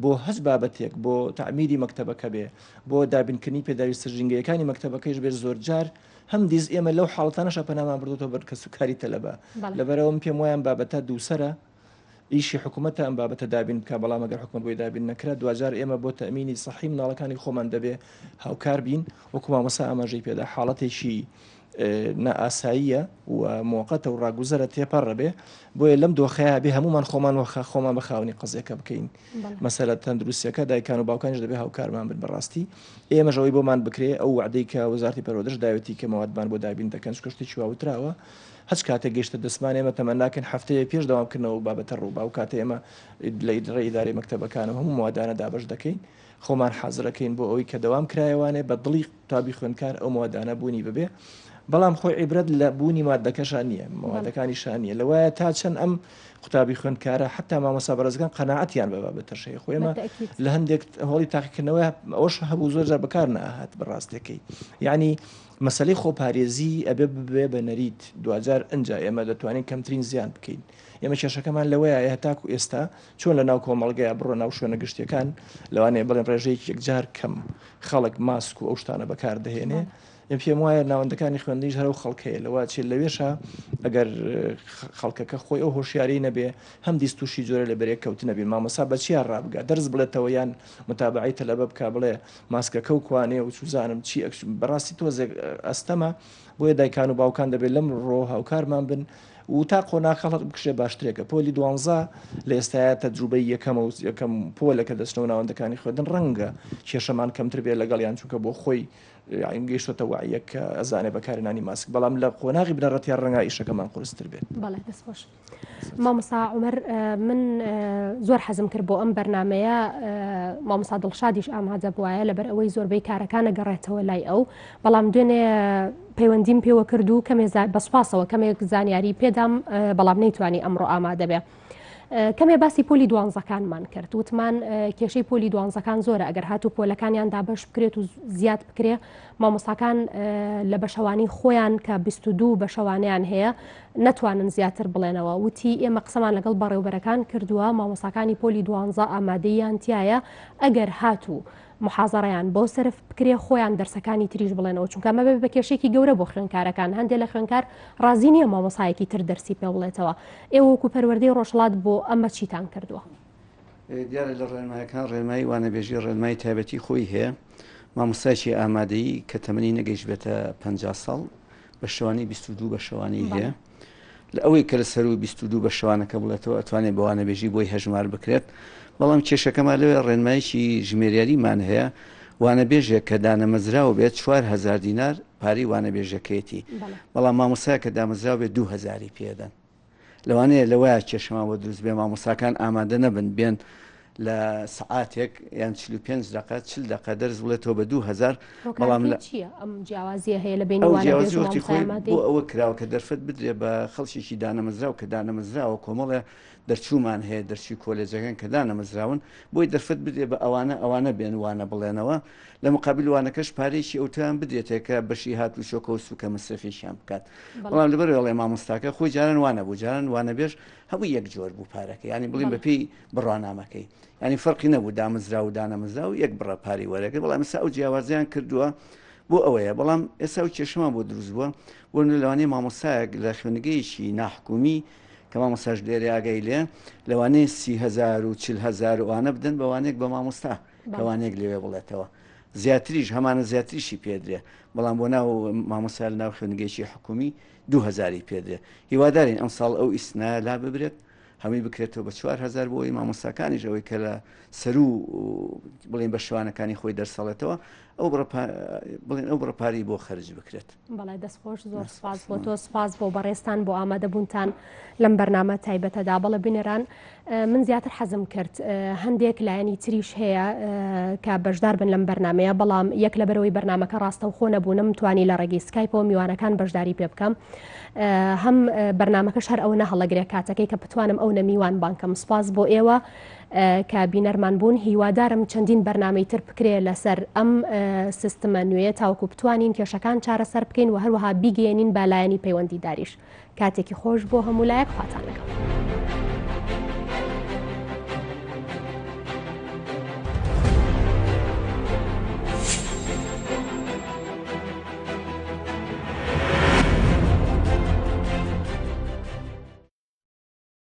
B: بۆ هەست بابەتێک بۆ تعمیری مەکتتەبەکە بێ بۆ دابینکردنی پێداویستە ژینگەیەکانی مەکتتەبەکەیش بێت زۆر جار هەم دیز ئێمە لەو حاڵتانەشە پەنامان بردوەوە بەر کەسوکاری تەلەبە لەبەرەوەم پێم وایان بابەتە دووسرە ئیشی حکومەتە ئەم بابەتە دابین بکات، بەڵام ئەگەر حکومەت بۆی دابین نەکرا، دواجار ئێمە بۆ تەئمینی سەحی منداڵەکانی خۆمان دەبێ هاوکار بین، وەکو مامۆستا ئاماژەی پێدا حاڵەتێکی نائاساییە و موقتە و ڕاگوزەرە تێپەڕە بێ بۆیە لەم دۆخەیە بێ هەمومان خۆمان وەخە خۆمان بە خاونی قزیەکە بکەین مەسەرە تەندروستەکە دایکان و باوکانش دەبێ هاوکارمان بن بەڕاستی ئێمەژەوەی بۆمان بکرێ ئەو وعدەی کە وەزارتی پەرۆدەش داوێتی کە موادمان بۆ دابین دەکەن شتێکی واوتراوە هەچ کاتێک گەیشتە دەستمان ئێمە تەمەناکەین هەفتەیەک پێش دەوام کردنەوە ئەو بابەتە ڕوو با ئەو کاتەی ئێمە لە ئیدرە ئیدارەی مەکتەبەکان و هەموو موادانە دابەش دەکەین خۆمان حازرەکەین بۆ ئەوی کە دەوام کرایەوانێ بە دڵی قوتابی خوێندکار ئەو موادانە بوونی ببێ بەڵام خۆی عیبرەت لە بوونی مادەکەشان نییە مادەکانی شان نیە لەوایە تا چەند ئەم قوتابی خوێندکارە حتا مامەسا بەرزگان قەنەعەتیان بە بە تەشەی خۆێمە لە هەندێک هەڵی تاقیکردنەوە ئەوش هەبوو زۆر جار بەکار ناهات بەڕاستەکەی یعنی مەسەلەی خۆپارێزی ئەبێ ببێ بە نەریت دواجار ئەنجا ئێمە دەتوانین کەمترین زیان بکەین ئێمە کێشەکەمان لەوەیە هەتاکو ئێستا چۆن لە ناو کۆمەڵگەیە بڕۆ ناو شوێنە گشتیەکان لەوانەیە بڵێن ڕێژەیەکی یەکجار کەم خەڵک ماسک و ئەو شتانە بەکاردەهێنێ من پێم وایە ناوەندەکانی خوێندنیش هەرو خەڵکەیە لەوە چێت لەوێشە ئەگەر خەڵکەکە خۆی ئەو هۆشیاری نەبێ هەم دیست تووشی جۆرە لە بەرێک کەوتنەبی مامەسا بەچیا ڕابگە دەرز بڵێتەوە یان متابعی تەلەبە بک بڵێ ماسکەکەو کوانێ و چوزانم چی ئەک بەڕاستی تۆزێک ئەستەمە بۆیە دایکان و باوکان دەبێت لەم ڕۆ هاوکارمان بن و تا قۆناخە هەڵک بکشێ باشترێکە پۆلی دوانزە لە ئێستاە تەجروبەی یەکەمە و یەکەم پۆلە کە دەچنەوە ناوەندەکانی خوێندن ڕەنگە کێشەمان کەمتر بێت لەگەڵیان چونکە بۆ خۆی یایم گەیشتە وعیەک کە ئەزانێ بەکارێنانی ماسک بەڵام لە قۆناغی بنەڕەتیا ڕەنگە ئیشەکەمان قرستر بێت بەڵێ دەستخۆش.
A: مامۆستا عومەر من زۆر حەزم کرد بۆ ئەم بەرنمەیە مامۆستا دڵشادیش ئامادە بواە لەبەر ئەوەی زۆربەی کارەکانە گەڕێتەوە لای ئەو بەڵام دوێنێ پەیوەندیم پێوە کرد و کەمێ بەسپاسەوە کەمێک زانیاری پێدام بەڵام نەیتوانی ئەمڕۆ ئامادەبێ. کەمێ باسی پۆلی دوانزەکانمان کرد وتمان کێشەی پۆلی دوانزەکان زۆرە ئەگەر هاتو پۆلەکانیان دابش بکرێت و زیاد بکرێ مامۆساکان لە بەشەوانی خۆیان کە 22 بەشەوانیان هەیە نەتوانن زیاتر بڵێنەوە، وتی، ئێمە قسەمان لەگەڵ بەڕێوبەرەکان کردووە، مامۆستاکانی پۆلی دوانزە ئامادەییان تیایە، ئەگەر هاتوو محازەڕەیان بۆ سەرف بکرێ خۆیان دەرسەکانی تریش بڵێنەوە، چونکە ئەمە بەبێ بە کێشەیەکی گەورە بۆ خوێندکارەکان، هەندێ لە خوێندکار ڕازی نییە مامۆستایەکی تر دەرسی پێ بڵێتەوە، ئێوە وەکو پەروەردەی ڕۆژهەڵات بۆ ئەمە چیتان کردووە؟
C: دیارە لە ڕێنمایەکان ڕێنمایی وانەبێژی ڕێنمایی تایبەتی خۆی هەیە، مامۆستایەکی ئامادەیی کە تەمەنی نەگەیشتبێتە پەنجا ساڵ بەشەوانەی بیست و دوو بەشەوانەی هەیە، لە ئەوەی کە لە سەروو بیست و دوو بەشەوانەکە بڵێتەوە ئەتوانێت بە وانەبێژی بۆی هەژمار بکرێت، بەڵام کێشەکەمان لەوێ ڕێنماییکی ژمێریاریمان هەیە، وانەبێژێک کە دانەمەزراو بێت چوار هەزار دینار پارەی وانەبێژەکەیەتی، بەڵام مامۆستایەک کە دامەزراو بێت دوو هەزاری پێ دەدەن. لەوانەیە لەوەیە کێشەمان بۆ دروست بێ مامۆستاکان ئامادە نەبن بێن لە سعاتێک یان چ پێنج دقە چل دقە دەرز بڵێتەوە بە دوو هزار بەڵام لە چیە ئەم
A: جیاوازیە هەیە لە بین جیاوازی خۆی بۆ ئەوە
C: کراوە کە دەرفەت بدرێ بە خەڵکیی دانەمەزراو کە دانەمەزراوە کۆمەڵێ دەرچوومان هەیە دەرچوی کۆلێجەکان کە دانەمەزراون بۆی دەرفەت بدرێ بە ئەوانە ئەوانە بێن وانە بڵێنەوە لە مقابل وانەکەش پارەیەکی ئەوتۆیان بدرێتێ کە بەشی هات و چۆکە و سوکە مەسرفێکیان بکات بەڵام لەبەر ئەڵێ مامۆستاکە خۆی جاران وانە بوو جاران وانە بێش هەموو یەک جۆر بوو پارەکە ینی بڵین بە پێی بڕوانامەکەی ینی فەرقی نەبوو دامەزرا و دانەمەزرا و یەک بڕە پاری وەرەکە بەڵام ئەسا ئەو جیاوازیان کردووە بۆ ئەوەیە بەڵام ئێسا و کێشەمان بۆ دروست بووە بۆ لەوانەیە مامۆسایەک لە خوێنگەیەکی ناحکومی کە مامۆساش لێرە ئاگای لێ لەوانەیە سیهزار و چهزار وانە بدەن بەوانێک بە مامۆستا لەوانەیەک لەوێ بڵێتەوە زیاتریش هەمانە زیاتریشی پێدرێ بەڵام بۆ ناو مامۆسا لە ناو خوێنگەیشی حکومی دوهزاری پێدرێ هیوادارین ئەم ساڵ ئەو ئیسنا لا ببرێت هەمووی بکرێتەوە بە چوارهزار بۆی مامۆساکانیش ئەوەی کە لە سەرو بڵێن بە شوانەکانی خۆی دەرسەڵێتەوە ئەو بڕە پا بڵێن ئەو بڕە پارەی بۆ خەرج بکرێت. بەڵێ دەست خۆش
A: زۆر ناس سپاس بۆ تۆ خۆشمان. سپاس بۆ بەڕێزتان بۆ ئامادەبوونتان لەم بەرنامە تایبەتەدا بەڵێ بینەران ئە، من زیاتر حەزم کرد ئە، هەندێک لایەنی تریش هەیە ئە، کە بەشدار بن لەم بەرنامەیە بەڵام یەک لەبەرەوەی بەرنامەکە ڕاستەوخۆ نەبوو نەمتوانی لە ڕێگەی سکایپەوە میوانەکان بەشداری پێ بکەم ئە، هەم ئە، بەرنامەکەش هەر ئەوەنە هەڵەگرێ کاتەکەی کە بتوانم ئەونە میوان بانکەم سپاس بۆ ئێوە کە بینەرمان بوون هیوادارم چەندین بەرنامەی تر بکرێ لەسەر ئەم سیستمە نوێیە تاوەکو بتوانین کێشەکان چارەسەر بکەین و هەروەها بیگەێنین بە لایەنی پەیوەندی داریش کاتێکی خۆش بۆ هەموو لایەک خواتان لەگەڵ.